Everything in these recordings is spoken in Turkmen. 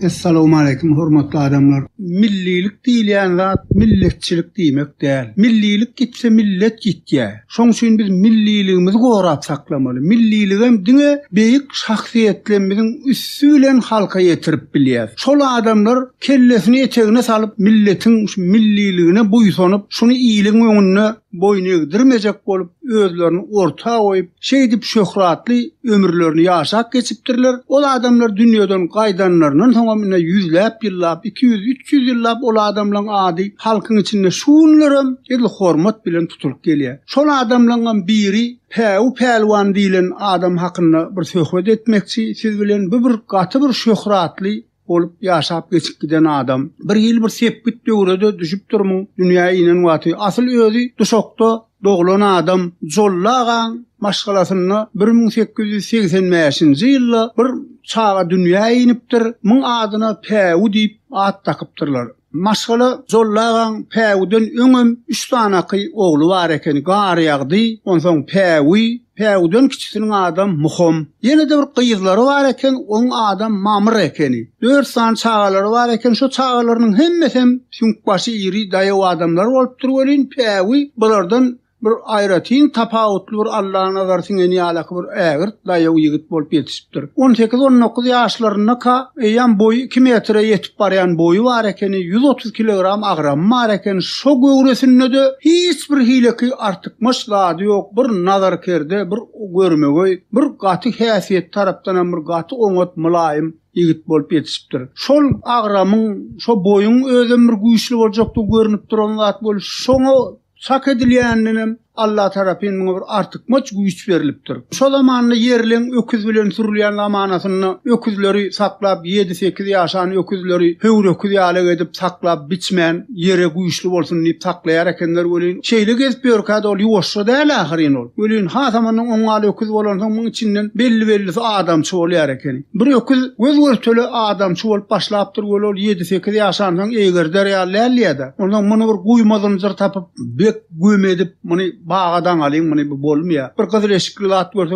Essalawmaleýkim hormatly adamlar. Millilik diýilýän zat milletçilik diýmek däl. Millilik gitse millet gitýär. Şoň üçin biz milliligimizi gorap saklamaly. Milliligem diňe beýik şahsyýetlerimiziň üsti bilen halka ýetirip bilýäs. Şol adamlar kellesini etegine salyp milletiň şu milliligine buýsanyp şuny iliň öňünde boýun egdirmejek bolup, özlerini orta goýup, şeýdip şöhratly ömürlerini ýaşap geçipdirler. Ol adamlar dünýeden gaýdanlaryndan soňam ine ýüzläp ýyllap, iki ýüz, üç ýüz ýyllap ol adamlaryň ady halkyň içinde şu günlerem edil hormat bilen tutulyp gelýär. Şol adamlaryňam biri Päwü pälwan diýlen adam hakynda bir söhbet etmekçi siz bilen, bu bir gaty bir şöhratly bolup ýaşap geçip giden adam. Bir hili bir sepgit döwre-de düşüp durmyň, dünýä inen wagty. Asyl özi Duşakda doglan adam. Jolly agaň maşgalasynda bir müň sekiz ýüz segsen bäşinji ýylda bir çaga dünýä inipdir. Muň adyna Päwü diýip at dakypdyrlar. Maşgala Jolly agaň Päwüden öňem üç sanaky ogly bar ekeni, Garýagdy, onsoň Päwü, Päwüden kiçisiniň adam Muham. Ýene-de bir gyzlary bar eken, oň adam Mamr ekeni. Dört sany çagalary bar eken, şo çagalarynyň hemmesem süňkbaşy iri, daýaw adamlar bolupdyr welin, Päwü bulardan Bir aýratyn tapawutly bir Allanazar siňen ýalaky bir ägirt daýaw ýigit bolup ýetişipdir. On sekiz-on dokuz ýaşlaryndaka, eýýäm boýy iki metre ýetip barýan boýy bar ekeni, ýüz otuz kilogram agramy bar eken, şo göwresinde-de hiç bir hileki artykmaç zady ýok, bir nazarkerde, bir görmegeý, bir gaty häsiýeti tarapdanam bir gaty oňat, mylaýym ýigit bolup ýetişipdir. Şol agramyň, şo boýuň özem bir güýçli boljakdygy görnüp duran zat bolup, şoňa Çak edilýäninden hem Alla tarapyn muňa bir artykmaç güýç berlipdir. Şo zamanda ýerleň öküz bilen sürülýän zamanasynda öküzleri saklap, ýedi-sekiz ýaşan öküzleri höwröküz ýaly edip saklap, biçmän, ýere güýçli bolsun diýip saklaýar ekenler welin, şeýle gezip ýörkä-de ol ýuwaşja däl ahyryn ol. Welin, hasamandan oňňal öküz bolansoň, muň içinden belli-bellisi adamçy bolýar ekeni. Bir öküz göz-görtele adamçy bolup başlapdyr weli ol ýedi-sekiz ýaşansoň eýgerder ýaly däldiýädä. Onsoň muny bir guýma zynjyr tapyp, bek güm edip, muny baga daňalyň, muny bu bolmaýa. Bir gyzyl eşikli zat görse,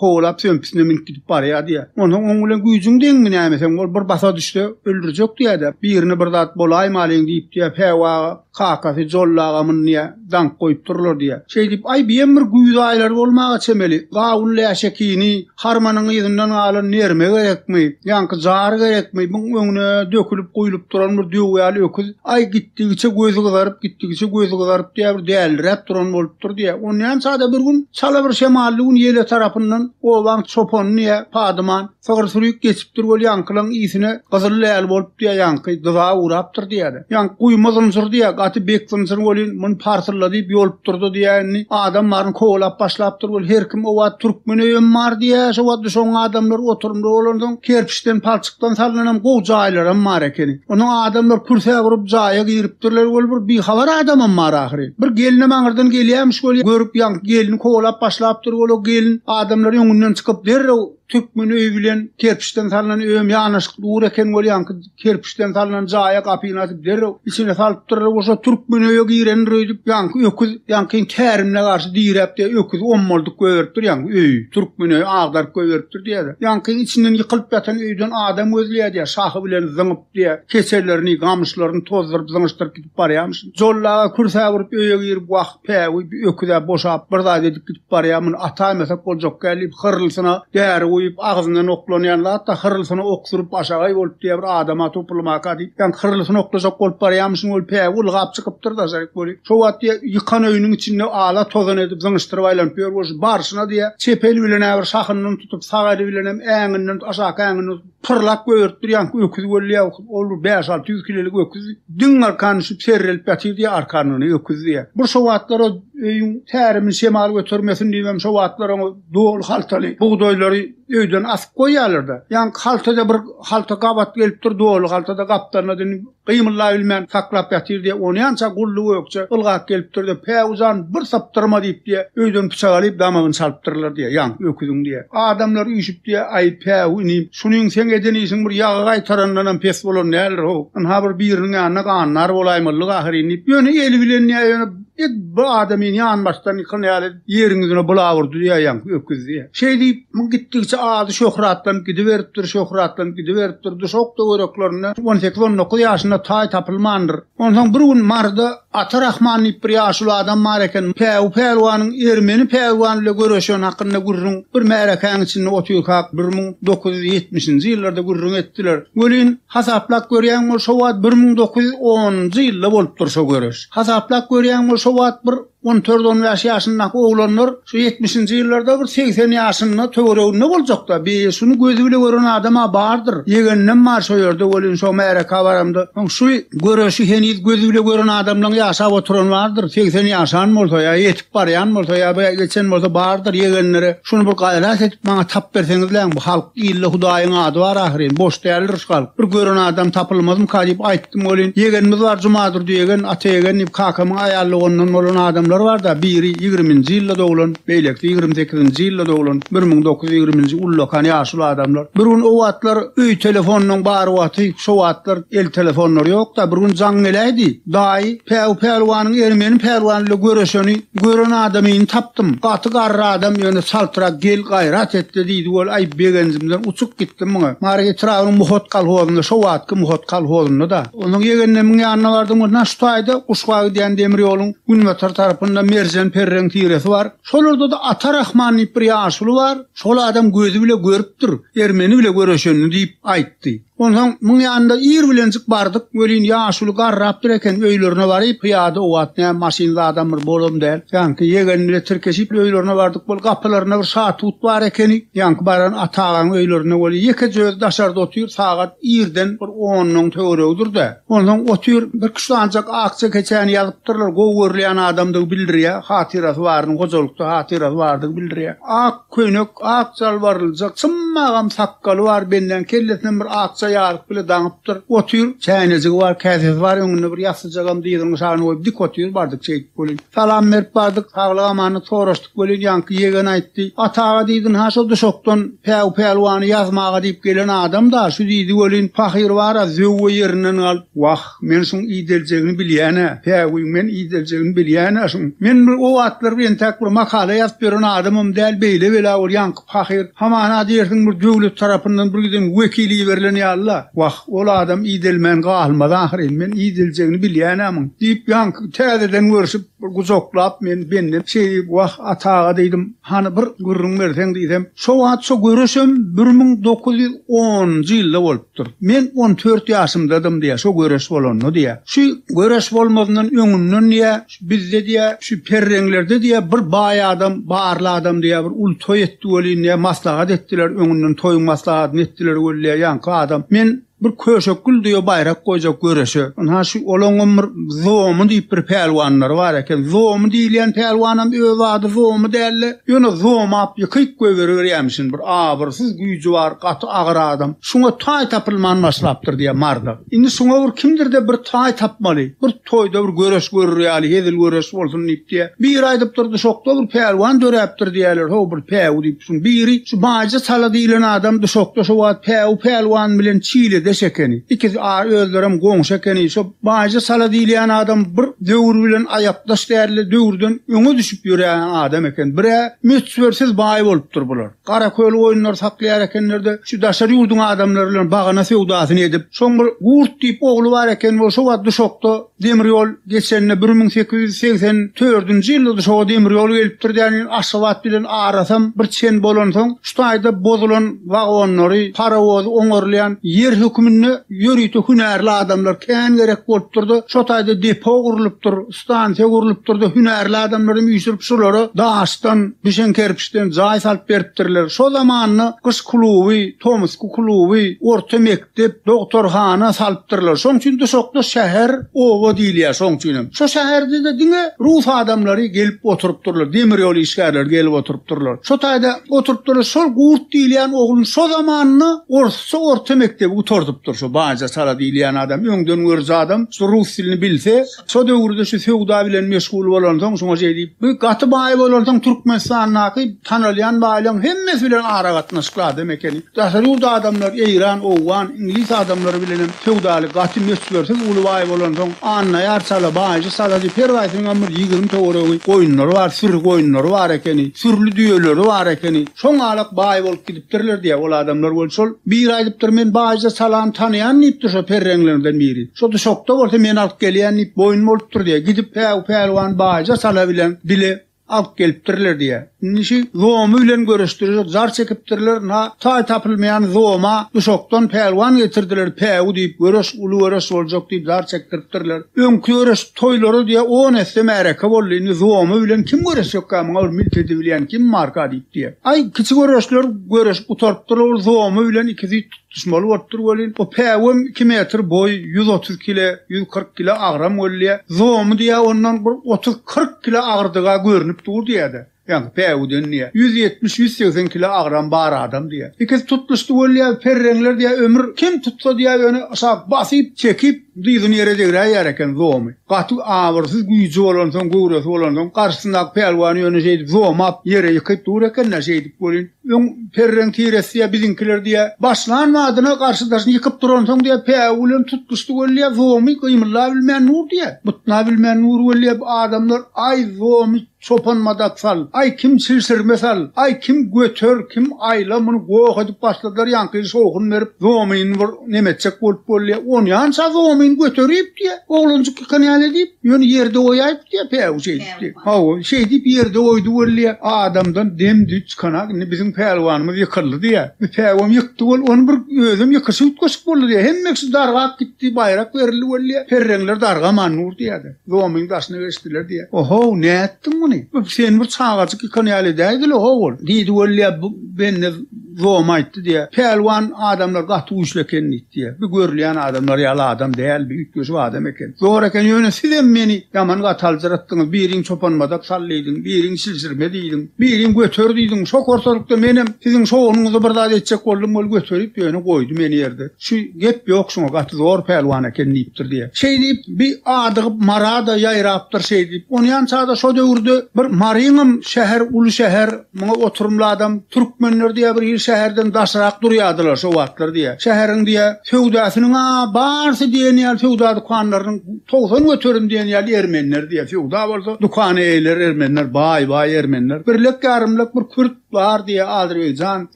kowalap sömpüsine münüp gidip barýa diýä. Onsoň oň bilen güýjüň deňmi näme seň? Ol bir basa düşse, öldürjek diýädä. Birine bir zat bolaýmalyň diýip diýä, päwa, Kakasy Jolly agamyny niýe daňk goýup durlar diýýä. Şeýdip, aý biem bir güýz aýlary bolmaga çemeli. Gawun läşekini, harmanyň yzyndan galan nerme gerekmi, ýaňky jar gerekmi, muň öňüne dökülip guýlup duran bir döw ýaly öküz, aý gitdigiçe gözi gyzaryp, gitdigiçe gözi gyzaryp diýýä, bir däldiräp duran bolupdyr diýýä. Onýança-da bir gün, çala bir şemally gün ýele tarapyndan obaň çopany niýe, Padyman, Sygyr sürik geçipdir weli ýaňkylaň iýsine gyzyl läl bolup diýýär ýaňky dyza urapdyr diýýär. Ýaňky guýma zynjyr diýýär gaty bek zynjyr welin muny parsylla diýip ýolupdyrda diýýär indi adam baryny kowalap başlapdyr weli her kim obat türkmen öýem bar diýýär şo wagtda şoň adamlar oturymda bolansoň kerpiçden palçykdan salnanam gowy jaýlaram bar ekeni onuň adamlar kürsä gurup jaýa giripdirler weli bir bihabar adamam bar ahyry bir gelinem aňyrdan gelýämiş weli görüp ýaňky gelini kowalap başlapdyr weli o gelin adamlar öňünden çykyp derrew Türkmen öýi bilen kerpiçden salnan öýem ýanaşyk dur eken bolýanky kerpiçden salnan jaýa gapyny açyp derrew içine salypdyrlar bolsa türkmen öýe girendir öýdüp ýaňky öküz ýaňky tärimine garşy diräp diýe öküz ommaldyk goýberipdir ýaňky öýi türkmen öýi agdaryp goýberipdir diýerler ýaňky içinden ýykylyp ýatan öýden adam gözleýär diýer şahy bilen zyňyp diýe keçelerini gamyşlaryny tozduryp zyňyşdyryp barýamyş. Jolla aga kürsäp urup öýe girip wah, päwü, bir öküz-ä boşap, bir zat edip gidip barýa, muny ataýmasak boljak däl diýip, hyrylsyna däri guýup, agzyndan oklanýan zat-da, hyrylsyna ok sürüp, aşagaý bolup diýýä, bir adam-a topulmaka diýip, ýaňky hyrylsyny oklajak bolup barýamyşyn, ol päwü ylgap çykypdyr daşaryk weli, şo wagt diýýä, ýykan öýüniň içinde ala-tozan edip, zyňyşdyryp aýlanyp ýör bolşy, barşyna diýýä, çep eli bilen-ä bir şahyndan tutup, sag eli bilenem äňinden, aşaky äňinden tutup, Pyrlap göýertdirýän öküz bolýa, ol bäş-alty ýüz kilolik öküz diň arkan düşüp serrelip ýatyr diýýär arkandan öküz diýýär. Bir şo wagtlar öýüň tärimini şemal götermesin diýibem şo wagtlar oňa doly haltaly bugdaýlary öýden asyp goýýarlar-da. Ýaňky haltada bir halta gabat gelipdir, doly haltada gapdalynda Gymyllaýbilmän saklap ýatyr diýe, onýança gully gökje ylgap gelipdir-de, Päwü jan, bir sypdyrma diýip diýe, öýden pyçak alyp damagyny çalypdyrlar diýe, ýaňky öküziň diýe. Adamlar üýşüp diýe, Aý, Päwü inim, şunyň seň eden işiň bir ýagy gaýtarandanam pes bolan däldir-how. Ynha bir biriniň ýanyna gandar bolaýmalydyk ahyryn diýip, ýöne eli bilen diýe, ýöne ed bir adamyny ýanbaşdan ýykan ýaly, Ýeriň ýüzüne bulawurdy ýaýaň öküz diýýä. Şeý diýip, muň gitdigiçe ady şöhratlanyp gidiberipdir, şöhratlanyp gidiberipdir. Duşak töwereklerinde on sekiz, on dokuz ýaşynda taý tapylmandyr. Onsoň bir gün Maryda Ata Rahman diýip bir ýaşuly adam bar eken. Päwü pälwanyň ermeni pälwan bilen göreşeni hakynda gürrüň bir märekäň içinde otyrkak bir müň dokuz ýüz ýetmişinji ýyllarda gürrüň etdiler. Welin, hasaplap görýäň bol, şo wagt bir müň dokuz ýüz onunjy ýylda bolupdyr şo göreş. Hasaplap görýäň bol, şo wagt bir On dört-on bäş ýaşyndaky oglanlar şu ýetmişinji ýyllarda bir segsen ýaşynda töwereginde boljakda, bi, şuny gözi bile gören adam-a bardyr. Ýegeninem bar şo ýerde welin, şo märeke baramda, soň şu göreşi heniz gözi bile gören adamlaň ýaşap oturany bardyr. Segsen ýaşan bolsa ýa ýetip barýan bolsa ýa-da geçen bolsa bardyr ýegenlere. Şuny bir gaýrat edip maňa tap berseňizläň bu halk ilde hudaýyň ady bar ahyryn boş däldir şu halk bir gören adam tapylmazmyka diýip aýtdym welin ýegenimiz bar jumadurdy ýegen ata ýegen diýip kakamyň aýal doganyndan bolan adamlar barda biri ýigriminji ýylda doglan beýlekisi ýigrimi sekizinji ýylda doglan bir müň dokuz ýüz ýigriminji ullakan ýaşuly adamlar bir gün o wagtlar öý telefonlaň bar wagty şo wagtlar el telefonlary ýokda bir gün jaň geläýdi. Daýy, Päw pälwanyň ermeni pälwany ile göreşeni gören adamyny tapdym. Gaty garry adam, ýöne çaltrak, gel, gaýrat et-le diýdi ol, aý, begenjimden uçup gitdim muňa. Mary etrabynyň Muhot kolhozynda, şo wagtky Muhot kolhozynda-da. Onsoň ýegenlemiň ýanyna bardym, ondan şu taýda Guşga gidýän demir ýoluň günbatar tarapynda Merjen perreň tiresi bar. Şolarda-da Ata Rahman diýip bir ýaşuly bar. Şol adam gözi bile görüpdir, ermeni bile göreşenini diýip aýtdy. Onsoň muň ýanynda ir bilenjik bardyk, welin ýaşuly garrapdyr eken, öýlerine baryp, pyýada owaat näme maşynly adam bir bolam däl. Ýaňky ýegeni bile tirkeşip öýlerine bardyk, bol gapylarynda bir şatut bar ekeni, ýaňky baran Ata agaň öýlerinde welin ýekeje özi daşarda otyr, sagat irden bir onnuň töweregidir-dä. Onsoň otyr, birki şudanjak akja keçäni ýazypdyrlar, gowy görülýän adamdygy bildirýä, hatyrasy baryny, hojalykda hatyrasy bardygy bildirýä. Ak. Köýnek ak jalbaryljak, symagam sakgaly bar, bendäniň kellesinem bir akja ýaryk bile daňypdyr. Otyr, çäýnejigi bar, käsesi bar, öňünde bir ýassyjagam dyzynyň aşagyna goýup dik otyr, bardyk şeýdip welin. Salam berip bardyk, saglyk-amanlyk soraşdyk welin, ýaňky ýegen aýtdy, Ata aga diýdin-hä şo duşakdan Päw pälwany ýazmaga diýip gelen adam-da, şu diýdi welin, pahyr bar-a, zöwwe ýerinden galyp, wah, Men şuň ideljegini bilýän-ä. Päwüý, men ideljegini bilýän-ä şuň. Men bir o wagtlar bir entäk bir makala ýazyp ýören adamam däl, beýle bela bol ýaňky pahyr. Hamana diýersiň bir döwlet tarapyndan bir giden wekil iberilen ýaly-la. Wah, ol adam idelmän galmaz ahyryn. Men ideljegini bilýän-ä muň, diýip, ýaňky täzeden görşüp, bir gujaklap meni benden şeýdip, Wah, Ata aga diýdim, hany bir gürrüň berseň diýsem, şo wagt şo görüşem bir müň dokuz ýüz onunjy ýylda bolup. dur. Men on dört ýaşymdadym diýýär, şo göreş bolanda diýýär. Şu göreş bolmazyndan öňünden diýýär, şu bizde diýýär, şu perreňlerde diýýär, bir baý adam, barly adam diýýär, bir uly toý etdi welin diýýär, maslahat etdiler, öňünden toýuň maslahatyny etdiler weli diýýär, ýaňky adam, men bir köşekgül diýýär, baýrak goýjak göreşe. Ynha, şu olaňam bir Zomy diýip bir pälwanlary bar eken. Zomy diýilýän pälwanam öz ady Zomy däldi. Ýöne zomap ýykyk goýberiberýämişin, bir abyrsyz güýji bar, gaty agyr adam. Şuňa taý tapylman başlapdyr, diýýär Marda. Indi şuňa bir kimdir-de bir taý tapmaly. Bir toýda bir göreş görür ýaly, hezil göreş bolsun diýip, diýýär. Biri aýdyp durdy, Duşakda bir pälwan döräpdir diýýärler, ho, bir päwü diýip, şuň biri, şu Baýjy Sala diýlen adam Duşakda şo wagt päwü pälwan bilen Çiledeş ekeni. Ikisi a, özlerem goňşy ekeni. Şo. Bajy sala diýilýän adam bir döwür bilen aýakdaş däldi, döwürden öňe düşüp ýörän adam eken. Bir-ä möçbersiz baý bolupdyr bular. Garaköl goýunlary saklaýar ekenler-de, şu daşary ýurduň adamlary bilen bagana söwdasyny edip, şoň bir Gurt diýip ogly bar eken, ol şo wagt Duşakda demir ýol geçende, bir müň sekiz ýüz segsen dördünji ýylda Duşaka demir ýol gelipdir däni, Aşgabat bilen arasam bir çen bolansoň, şu taýda bozulan, wagonlary, parowozy oňarylýan ýer hökmünde ýörite hünärli adamlar kän gerek bolupdyr-da, şo taýda depo gurlupdyr, stansiýa gurlupdyr-da, hünärli adamlary üýşürip, şulara daşdan, düşen kerpiçden jaý salyp beripdirler. Şo zamanda gyş kluby, tomusky kluby, orta mekdep, Dep dogtarhana salypdyrlar. Şoň üçin duşakda şäher, oba diýilýär şoň üçin hem. Şo şäherde-de diňe rus adamlary gelip oturypdyrlar, demir ýol işgärleri gelip oturypdyrlar. Şo taýda oturypdyrlar, şol Gurt diýilýän oglun şo zamanynda orsça orta mekdebi gutardypdyr, şo Baja Sala diýilýän adam, öňden görüji adam, şo rus dilini bilse, Şo döwürde şu söwda bilen meşgul bolansoň şuňa şeý diýip, bu gaty baý bolansoň Türkmenistandaky tanalýan baýlaň hemmesi bilen aragatnaşykly adam ekeni. Daşary ýurt adamlar, eýran, owgan, iňlis adamlary bilenem söwdaly, gaty möçbersiz uly baý bolansoň Annaýar çala, Baýjy çala diýip her gaýsynyňam bir ýigrimi töweregi goýunlary bar, süri goýunlary bar ekeni, sürli düýeleri bar ekeni. Şoňalak baý bolup gidipdir. Dirler diýýär ol adamlar bolup şol biri aýdypdyr men baýja salany tanaýan diýipdir şo perreňlerden biri şo duşakda bolsa men alyp gelýän diýip boýun bolupdyr diýýär gidip päw pälwan baýja sala bilen bile alyp gelipdirler diýýär indi şi zomy bilen görüşdirjek jar çekipdirler na taý tapylmaýan zoma duşakdan pälwan getirdiler päwi diýip göreş uly göreş boljak diýip jar çekdiripdirler öňki göreş Toýlara diýýä on esse märeke boldy, indi Zuomy bilen kim göreşjekkä, muňa bir milt edibilýän kim barka diýip diýýä. Aý, kiçi göreşler göreşip gutarypdyrlar, ol Zuomy bilen iki züýt tutuşmaly bolupdyr welin, o päwüm iki metr boý, ýüz otuz kile, ýüz kyrk kile agram welin diýýä, Zuomy diýýä ondan bir otuz-kyrk kile agyrdygy-a görnüp dur diýýä-de. Ýaňky päwüden diýýär. Ýüz ýetmiş, ýüz segsen kilo agram bar adam diýýär. Ikisi tutlyş tüwelýär, perreňler diýýär, ömür kim tutsa diýýär, ýöne şa basyp, çekip, dyzyny ýere degräýýär eken zomy. Gaty abyrsyz güýji bolansoň, göwresi bolansoň, garşysyndaky pälwany ýöne şeýdip zomap, ýere ýykyp dur eken-dä, şeýdip welin, öň perreň tiresi diýýär, biziňkiler diýýär, başlan badyna garşy daşyny ýykyp duransoň diýýär, päwü bilen tutlyş tüwelýär, zomy gymyldabilmän dur diýýär. Butnabilmän dur welin diýýär, adamlar, aý, zomy! Çopan madat sal, aý kim çilşirme sal, aý kim göter, kim aýla muny goh edip başladylar ýaňky şowhun berip zomyny bir neme etjek bolup bolýa onýança zomyn göteripdi oglanjyk ýykan ýaly edip ýöne ýerde goýaýypdy päwü şeýdipdi hawa şeýdip ýerde goýdy bolýa adamdan dem düýt çykanak indi biziň pälwanymyz ýykyldy diýä bu päwem ýykdy bol ony bir özem ýykyşy üýtgeşik boldy diýä hemmesi dargap gitdi baýrak berildi bolýa perreňler dargaman dur diýä-de. Zomyň daşyna geçdiler diýýär. O-how, nätdiň muny? Bu sen bir çagajyk ýykan ýaly edäýdil-o, ho-ol! diýdi weli-ä bu bende Zoma aýtdy diýýär. Pälwan adamlar gaty güýçli eken diýdi diýýär. Bu görülýän adamlar ýaly adam däl, bu üýtgeşik adam eken. Zor eken, ýöne sizem meni ýaman gaty aljyratdyňyz, biriň çopanmadak sal diýdiň, biriň çilşirme diýdiň, biriň göter diýdiň, şo horsalykda menem siziň şo-onuňyza bir zat etjek boldum, weli göterip ýöne goýdy meni ýerde. Şu gep ýok şuňa gaty zor pälwan eken diýipdir diýýär. Şeý diýip bi adygyp Mara-da ýaýrapdyr şeý diýip. Onýança-da şo döwürde bir Maryňam şäher uly şäher, muňa oturymly adam, türkmenler diýýär bir hili şäherden daşrak durýardylar şo wagtlar diýýär. Şäheriň diýýär söwdasynyň-a barsy diýen ýaly söwda dükanlarynyň togsan göterim diýen ýaly ermenler diýýär. Söwda bolsa dükana eýler ermenler, baý-baý ermenler. Birlek ýarymlek bir kürt Bar diýýär Azerbaýjan.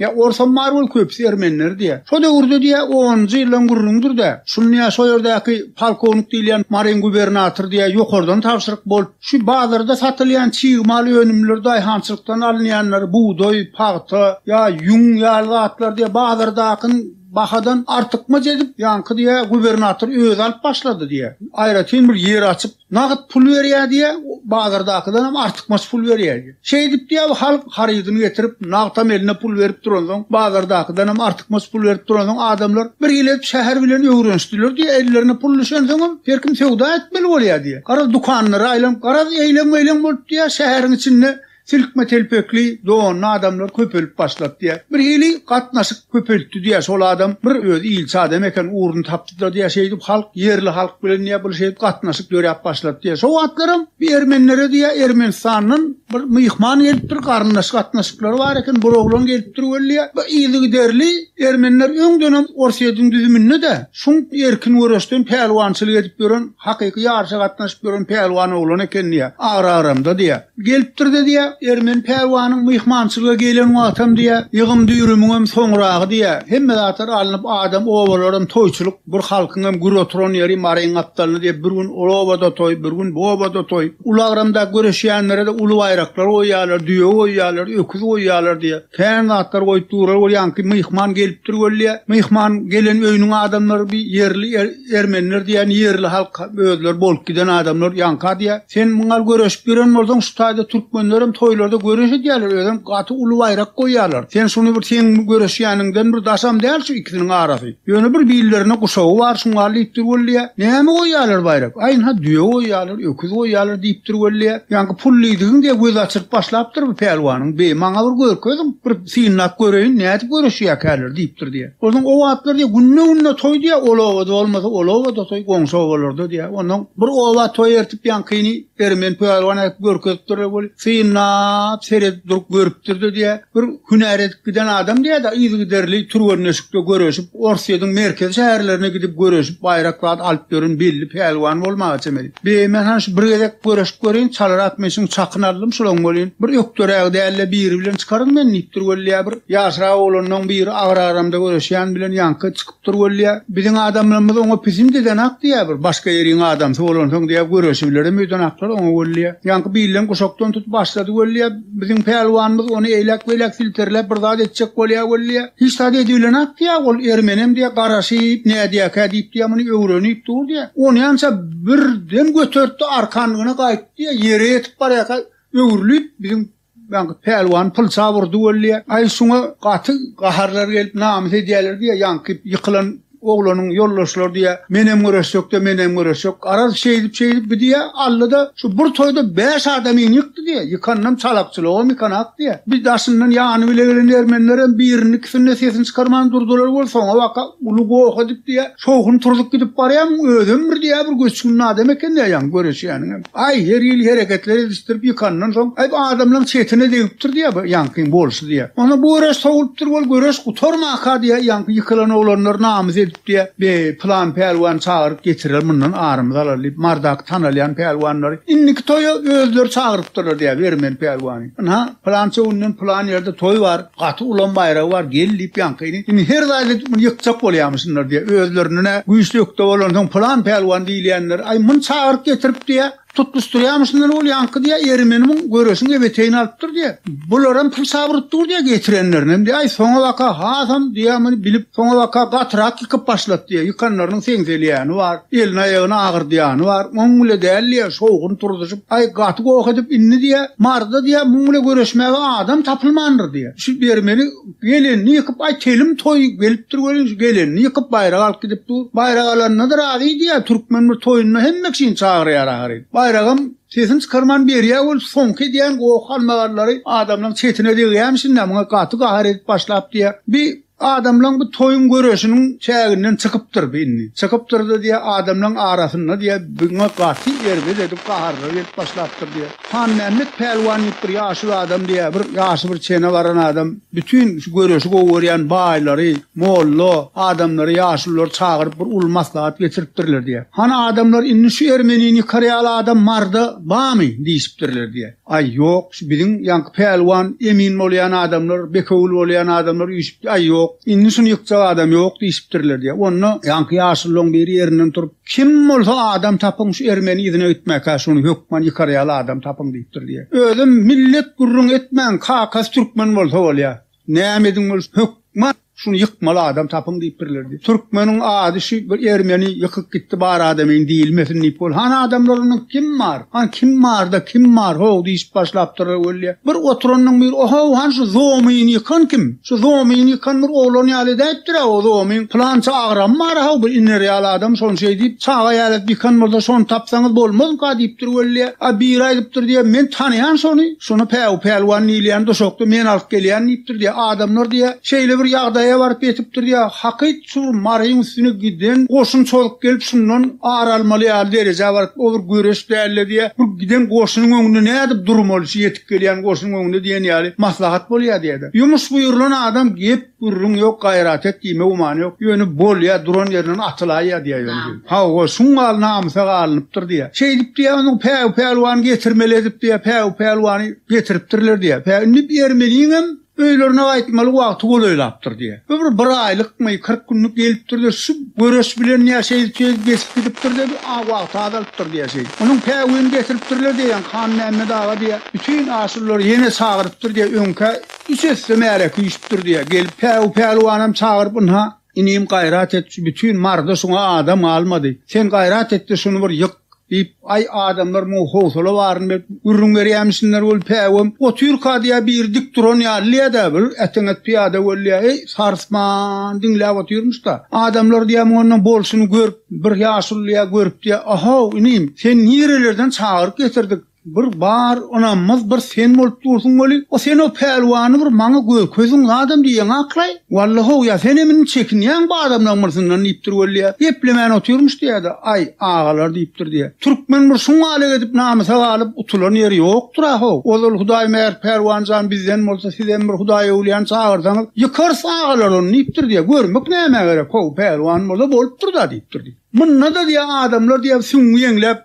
Ýa orsam bar bol köpüsi ermeniler diýýär. Şo döwürde diýýär onunjy ýyldan gürrüňdir-de, şuny diýýär şo ýerdäki polkownik diýilýän maryň gubernator diýýär ýokardan tabşyryk bolup, şu bazarda satylýan çig mal önümleri daýhançylykdan alynýanlary bugdaý, pagta ýa ýüň ýaly zatlar diýýär bazardakyny bahadan artykmaç edip ýaňky diýýär gubernator özi alyp başlady diýýär. Aýratyn bir ýer açyp Nagt pul berýär diýýär, bazardakydan hem artykmaç pul berýär diýýär. Şeýdip diýýär, bu halk harydyny getirip, nagtam eline pul berip duransoň, bazardakydan hem artykmaç pul berip duransoň, adamlar bir hili edip şäher bilen öwrenişdiler diýýär, ellerine pul düşensoňam, her kim söwda etmeli bolýar diýýär. Garaz, dükanlara aýlanyp, garaz, eýleň-meýleň bolup diýýär, şäheriň içinde Silkme telpekli, donly adamlar köpelip başlapdyýa. Bir hili gatnaşyk köpeltdi diýä şol adam, bir özi ilçi adam eken, ugruny tapdyda diýä şeýdip halk, ýerli halk bilen diýä bir şeýdip gatnaşyk döräp başlapdy diýä. Şo wagtlaram bir ermenlere diýä Ermenistandan bir myhman gelipdir, garyndaş gatnaşyklary bar eken, bir oglan gelipdir weli diýä. Bir yzygiderli ermenler öňdenem Orsýetiň düzüminde-de şuň erkin göreşden pälwançylyk edip ýören, hakyky ýaryşa gatnaşyp ýören pälwan oglan eken diýä, agra-agramda diýä. Gelipdir-de diýýär, ermeni pälwanyň myhmançylyga gelen wagtam diýýär, ýygym-düýrümiňem soňragy diýýär, hemme zatlar alnyp, adam, obalaram toýçulyk, bir halkyňam gür oturan ýeri Maryň gapdalyny diýip, bir gün ol obada toý, bir gün bu obada toý. Ulagramda göreşýänlere-de uly baýraklar goýýarlar, düýe goýýarlar, öküz goýýarlar diýýär. Kän zatlar goýup durar ol ýaňky myhman gelipdir weli myhman gelen öýüniň adamlary bir ýerli ermenler diýen ýerli halk özleri bolup giden adamlar ýaňka diýä sen muňal göreşip ýören bolsaň şu taýda türkmenler hem toýlarda göreş edýärler özem gaty uly baýrak goýýarlar sen şuny bir seň göreşýäniňden bir daşam däl şu ikisiniň arasy ýöne bir billerine guşagy bar şuňal diýipdir weli näme goýýarlar baýrak aýynha düýe goýýarlar. Öküz goýýarlar diýipdir weli. Ýaňky pul diýdigiň diýe göz açyryp başlapdyr bu pälwanyň beýi. Maňa bir görkeziň, bir synlap göreýin, nädip göreşýäkäler diýipdir diýe. Onsoň o wagtlar diýe günde-günde toý diýe, ol obada bolmasa, ol obada toý, goňşy obalarda diýe. Onsoň bir oba toý ertip ýaňkyny Ermeni pälwan äkidip görkezipdir weli. Synlap, seredip durup görüpdir-de diýýär, bir hünär edip giden adam diýýär-de, yzygiderli türgenleşikde göreşip, Orsýetiň merkezi şäherlerine gidip göreşip, baýrak zat alyp ýören belli pälwan bolmaga çemeli. Be, men han şu bir gezek göreşip göreýin, çalyrak men şuň çakyny aldym, şolaň bolýyn. Bir ökderägi däl-de biri bilen çykaryn men diýipdir weli diýýär, bir ýaşrak oglanlaň biri agyr aramda göreşýän bilen ýaňky çykyp. Turgulýa, Biziň adamlarymyz oňa Pisindiden hak diýýär, bir başga ýeriň adamsy bolansoň diýýär, göreşibilerim öýden haklar oňa welýa. Ýaňky bilen guşakdan tutup başlady welýa, biziň pälwanymyz ony eýläk-beýläk silterläp bir zat etjek bolýar welýa. Hiç zat edibilenok diýýär, ol ermenem diýýär, garaşyp nädýärkä diýip diýýär, muny öwrenip dur diýýär. Onýança birden götertdi, arkanlygyna gaýtdy diýýär, ýere ýetip barýarka öwrülip biziň Ýaňky pälwan pyl çap urdy weli, aý şuňa gaty gaharlary gelip namys edýäler diýýär, ýaňky ýykylan oglanyň ýoldaşlary diýýär, menem göreşjek-de, menem göreşjek. Garaz, şeýdip-şeýdip gidýär, Alla-da şu bir toýda bäş adam in ýykdy diýýär. Ýykanynam çalakçylygam ýykanak diýýär. Bir daşyndan ýany bile gelen ermenlerem birini-ikisini-de sesini çykarman durdular weli, soňabaka uly goh edip diýýär, Şowhun turzup gidip barýaň, özem bir diýýär bir göçgün adam eken diýýär, göreşýäniňem. Aý, her hili hereketler edişdirip ýykandan soň, aý, adamlaryň çetine degipdir diýýär bu ýaňkyň bolşy diýýär. Onsoň bu göreş sowulypdyr wol, göreş gutarmaka diýýär, ýaňky ýykylan oglanlar namys edip diýýär, Be, pylan pälwany çagyryp getirer, mundan arymyzy alar diýip, Mardaky tanalýan pälwanlary indiki toýa özleri çagyrypdyrlar diýýär, Bermeli pälwany. Ynha, pylança günden pylan ýerde toý bar. Gaty ulam baýragy bar gel diýip ýaňkyny indi her zaýat edip muny ýykjak bolýamyşynlar diýýär özlerinenä güýçli ökde bolansoň pylan pälwan diýilýänler aý muny çagyryp getirip diýýär tutluşdyrýamyşynlar ol ýaňky diýýär ermeni muň göreşiň ebeteýini alypdyr diýýär bularam pul çabyryp dur diýýär getirenlerinem diýýär aý soňabaka hasam diýýär muny bilip soňabaka gatyrak ýykyp başlat diýýär ýykanlarynyň seňselýäni bar elini aýagyny agyrdýany bar oň bile däl diýýär şowhun turuzuşyp Aý, gaty goh edip indi diýýä, Marda diýýä, muň bile göreşmäge adam tapylmandyr diýýä. Şu dermeni gelenini ýykyp, aý, telim toý gelipdir welin, şu gelenini ýykyp, baýrak alyp gidip dur. Baýrak alanyna-da razy diýýä, türkmen bir toýuna hemme kişini çagyrýar ahyryn. Baýragam sesini çykarman berýä welin, soňky edýän goh-galmagalary adamlaryň çetine degýämişin-dä, muňa gaty gahar edip başlap diýýä, Bi, Adamlaň bu toýuň göreşiniň çäginden çykypdyr bi indi. Çykypdyr-da diýýär, adamlaň arasynda diýýär, biňe gaty erbet edip gaharlar gelip başlapdyr diýýär. Hanmämmet pälwan diýip bir ýaşuly adam diýýär, bir ýaşy bir çene baran adam bütin şu göreşi gowy görýän baýlary, molla adamlary, ýaşululary çagyryp bir uly maslahat geçiripdirler diýýär. Hany adamlar indi şu ermenini ýykar ýaly adam marda bamy? diýşipdirler diýýär. Aý ýok şu biziň ýaňky pälwan emin bolýan adamlar bekewül bolýan adamlar üýşüp aý ýok indi şuny ýykjak adam ýok diýşipdirler diýýär onda ýaňky ýaşullaň biri ýerinden turup kim bolsa adam tapyň şu ermeni yzyna gitmäkä şuny hökman ýykar ýaly adam tapyň diýipdir diýýär özem millet gürrüň etmän kakasy türkmen bolsa bolýar. Näme ediň bolsa hökman şuny ýykmaly adam tapyň diýip birlerdi. Türkmeniň ady şu bir ermeni ýykyp gitdi bar adamyň diýilmesin diýip bol. Hany adamlaryndan kim bar? Hany kim barda kim bar? Ho diýip başlapdyr öwelýä. Bir oturanyň bir oho han şu zomyny ýykan kim? Şu zomyny ýykan bir oglan ýaly edäýipdir o zomyň. Pylança agram bar ha bir iner ýaly adam şony şeý diýip çaga ýaly ýykan bolsa şony tapsaňyz bolmazmyka diýipdir öwelýä. A biri aýdypdyr diýe men tanaýan şony. Şony Päw pälwan diýilýän duşakda men alyp gelýän diýipdir diýýär. Adamlar diýýär, şeýle bir ýagdaýa baryp ýetipdir diýýär. Hakyt şu Maryň üstüne giden goşun çozup gelip şundan ar almaly ýaly derejä barypdyr. O bir göreş däl-de diýýär. Bu giden goşunyň öňünde nädip durmaly şu ýetip gelýän goşunyň öňünde diýen ýaly maslahat bolýar diýýär-de. Ýumuş buýrulan adam gep Gürrüň ýok, gaýrat et diýme gümany ýok. Ýöne bolýa, duran ýerinden atylaýýa diýýä ýöne diýip. Hawa, şuň galna amsag alnypdyr diýýä. Şeýdip diýýä, onuň Päwi pälwany getirmeli edip diýýä, Päwi pälwany getiripdirler diýýä. Päwi indi ermeniňem öýlerine gaýtmaly wagty golaýlapdyr diýýä. Bu bir bir aýlykmy, kyrk günlük gelipdir-de, şu göreş bilen ýa şeýdip şeýdip geçip gidipdir-de, bu a wagty azalypdyr diýýä şeýdip. Onuň Päwini getiripdirler diýýä, Hanmämmet aga diýýä, bütin aşurylar ýene çagyrypdyr diýýä, öňkä Üç esse märek üýşüpdir diýýär. Gelip Päwü pälwanam çagyryp, Ynha, inim, gaýrat et, şu bütin Maryda şuňa adam galmady. Sen gaýrat et-de, şuny bir ýyk! diýip, Aý, adamlar muňa howsala baryny berip, gürrüň berýärmişsinler weli, Päwem, otyrka diýýär, biri dik duran ýalydy-ýa-da, biri äteňet pyýada boldy-ýa, eý, sarsman diňläp otyrmyş-da. Adamlar diýýär, muňa bolşuny görüp, bir ýaşulydy-ýa görüpdi-ýa, A-how, inim, seni nirelerden çagyryp getirdik? Bir bar ynanmaz bir sen bolup dursuň weli o sen o pälwany bir maňa görkeziň zadam diýýäň akylaý walla how ýa senem indi çekinýäň bu adamlaň myrsyndan diýipdir weli ýa geplemän otyrmyş diýädä aý agalar diýipdir diýä türkmen bir şuň aleg edip namysa galyp utulan ýeri ýokdyra how ozal hudaý mähir pälwan jan bizden bolsa sizem bir hudaý öwlýäni çagyrsaňyz ýykarys agalar ony diýipdir diýä görmek nämä gerek how pälwan bolsa bolupdyr da diýipdir diýä munda da diýä adamlar diýä süňňi ýeňläp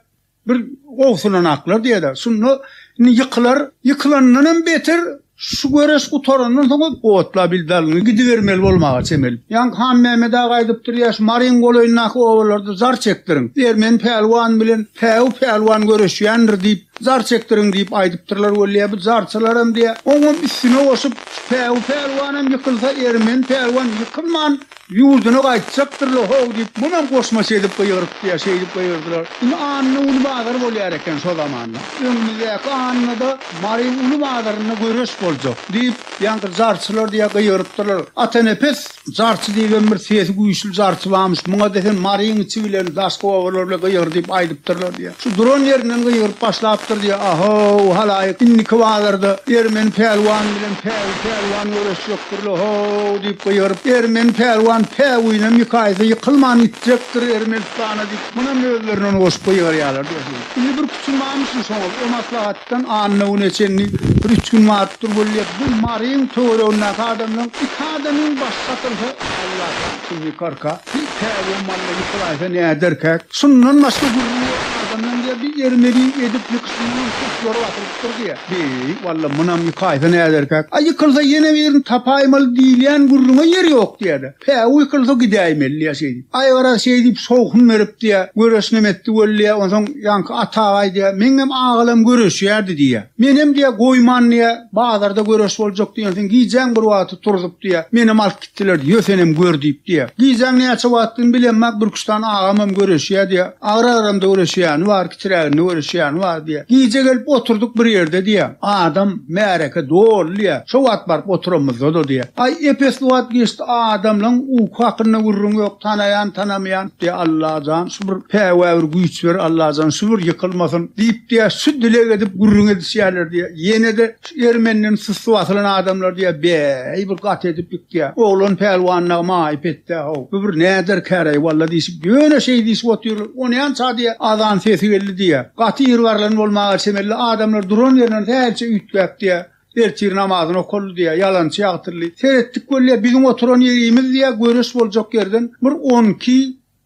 Bir gowsulan aklar diýerler. Şunda indi ýykylar, ýykylandan hem beter şu göreş gutarandan soň otla bil dalyny gidibermeli bolmaga çemeli. Ýaňky Hanmämmet aga aýdypdyr, ýa şu Maryň golaýyndaky obalarda zar çekdiriň. Ermeni pälwan bilen päwü pälwan göreşýändir diýip, zar çekdiriň diýip aýdypdyrlar weli, ýa bu zarçylar hem diýä, oňam üstüne goşup, şu päwü pälwan hem ýykylsa, ermeni pälwan ýykylman, Ýurduna gaýtjakdyrla how diýip munam goşmaça edip gygyrypdyýa şeýdip gygyrdylar. Indi Anna uly bazar bolýar eken şo zamanda. Öňümizdäki Annada Mary uly bazarynda göreş boljak diýip ýaňky jarçylar diýä gygyrypdyrlar. Atanepes jarçy diýibem bir sesi güýçli jarçy barmyş. Muňa desen Maryň içi bilen daşky obalar bile gygyrdyp aýdypdyrlar diýä. Şu duran ýerinden gygyryp başlapdyr diýýär, A-how, halaýyk, indiki bazarda Ermeni pälwan bilen Päwi pälwan göreşjekdir-le, ho-w! diýip gygyryp, Ermeni pälwan Päwinem ýykaýsa ýykylman ýitjekdir Ermenistana diýip, munam özlerinden goşup gygyrýarlar diýersiň. Indi bir küçüm barmyşyn şoňa, o maslahatdan anna güne çenli bir üç gün barypdyr weli, bu Maryň töweregindäki adamlaryň iki adamyň başy satylsa, Alla jan! Indi karka, bir käwä malla ýykylaýsa näderkäk? Şundan başga gürrüň ýok adamdan diýýär, bir ermedi edip ýykyşyndanam tuşlary basylypdyr diýýär. Beý, walla munam ýykaýsa näderkäk? A ýykylsa ýene birini tapaýmaly diýilýän gürrüňe ýer ýok diýýär-de. Päwü ýykylsa gidäýmeli diýýär şeýdip. Aý garaz şeý diýip şowhun berip diýýär, göreşinem etdi weli diýýär, onsoň ýaňky Atagaý diýýär, meňňem agalam göreşýärdi diýýär. Menem diýýär goýman diýýär, bazarda göreş boljak diýensiň gijäň bir wagty turzup diýýär, menem alyp Diler, Ýö, senem gör diýip diýýär. Gijäň näçe wagtdygyny bilemok, Bürküstan agamam göreşýär diýýär. Agyr-agramda göreşýäni bar, kitiräginde göreşýäni bar diýýär. Gije gelip oturdyk bir ýerde diýýär. Adam, märeke doly diýýär. Şo wagt baryp oturamyzda-da diýýär. Aý, ep-esli wagt geçdi, adamlaň uky hakynda gürrüň ýok, tanaýan, tanamaýan diýýär. Alla jan, şu bir päwa, bir güýç ber, Alla jan, şu bir ýykylmasyn diýip diýýär. Şu dileg edip gürrüň edişýärler diýýär. Ýene-de Ýeri menden susy basylan adamlar diýýär, Bäý, bir gaty edip ýykýar. Oglan pälwanyna maýyp etdi-ä-how. Bu bir näderkäräý walla diýşip, ýöne şeý diýşip otyrlar. Onýança diýýär, azan sesi geldi diýýär. Gaty ýyrgarlan bolmaga çemeli adamlar duran ýerinden hälçe üýtgäp diýýär, ertir namazyny okaldy diýýär, ýalançy ýagtyldy. Seretdik weli, biziň oturan ýerimiz diýýär, göreş boljak ýerden bir on iki,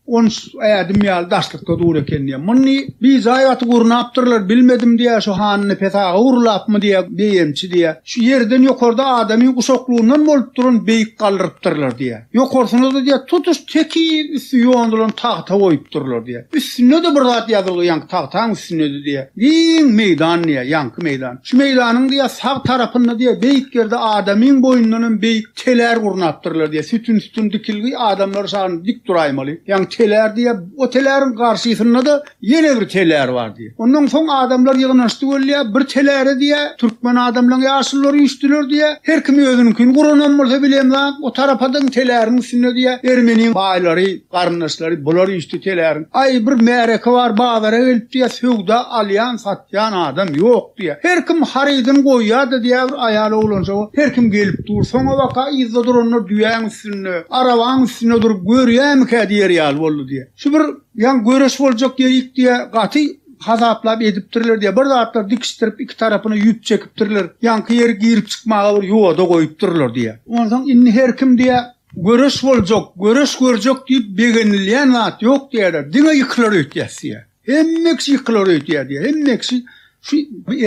On ädim ýaly daşlykda dur eken diýýär. Muny bijaý gaty gurnapdyrlar, bilmedim diýýär, şu hanyny pesaga gurlapmy diýýär, beýemçi diýýär. Şu ýerden ýokarda adamyň guşaklygyndan bolup duran beýik galdyrypdyrlar diýýär. Ýokarsyna-da diýýär, tutuş tekiz üsti ýondulan tagta goýupdyrlar diýýär. Üstünde-de bir zat ýazylgy ýaňky tagtaň üstünde-de diýýär. Giň meýdan diýýär, ýaňky meýdan. Şu meýdanyň diýýär, sag tarapynda diýýär, beýik ýerde adamyň boýundanam beýik telär gurnapdyrlar diýýär. Sütün-sütün dikilgi, adamlar şan dik duraýmaly. Ýaňy telär diýýär. O teläriň garşysynda-da ýene bir telär bar diýýär. Ondan soň adamlar ýygnanyşdy welin, bir teläre diýýär, türkmen adamlaryň ýaşulylary üýşdüler diýýär. Her kim özüniňkini guranam bolsa bilemzok, o tarapadyň teläriň üstünde diýýär, ermeniň baýlary, garyndaşlary, bular üýşdi teläriň. Aý, bir märeke bar, bazara gelip diýýär, söwda, alýan, sat. Jan adam ýok diýýär. Her kim harydyny goýýardy diýýär bir aýal oglanjyga. Her kim gelip dur. Soňabaka yzda duranlar düýäň üstünde, arabaň üstünde durup görýämikä diýer ýaly boldy diýýär. Şu bir ýaňy göreş boljak ýerik diýýär. Gaty hasaplap edipdirler diýýär. Bir zatlar dikişdirip iki tarapyna ýüp çekipdirler. Ýaňky ýeri girip çykmaga bir ýoda goýupdyrlar diýýär. Onsoň indi her kim diýýär, göreş boljak, göreş görjek diýip begenilýän zat ýok diýýärler. Diňe ýykylar öýtýäs diýýär. Hemmeksi ýykylar öýtýär diýýär. Hemmeksi şu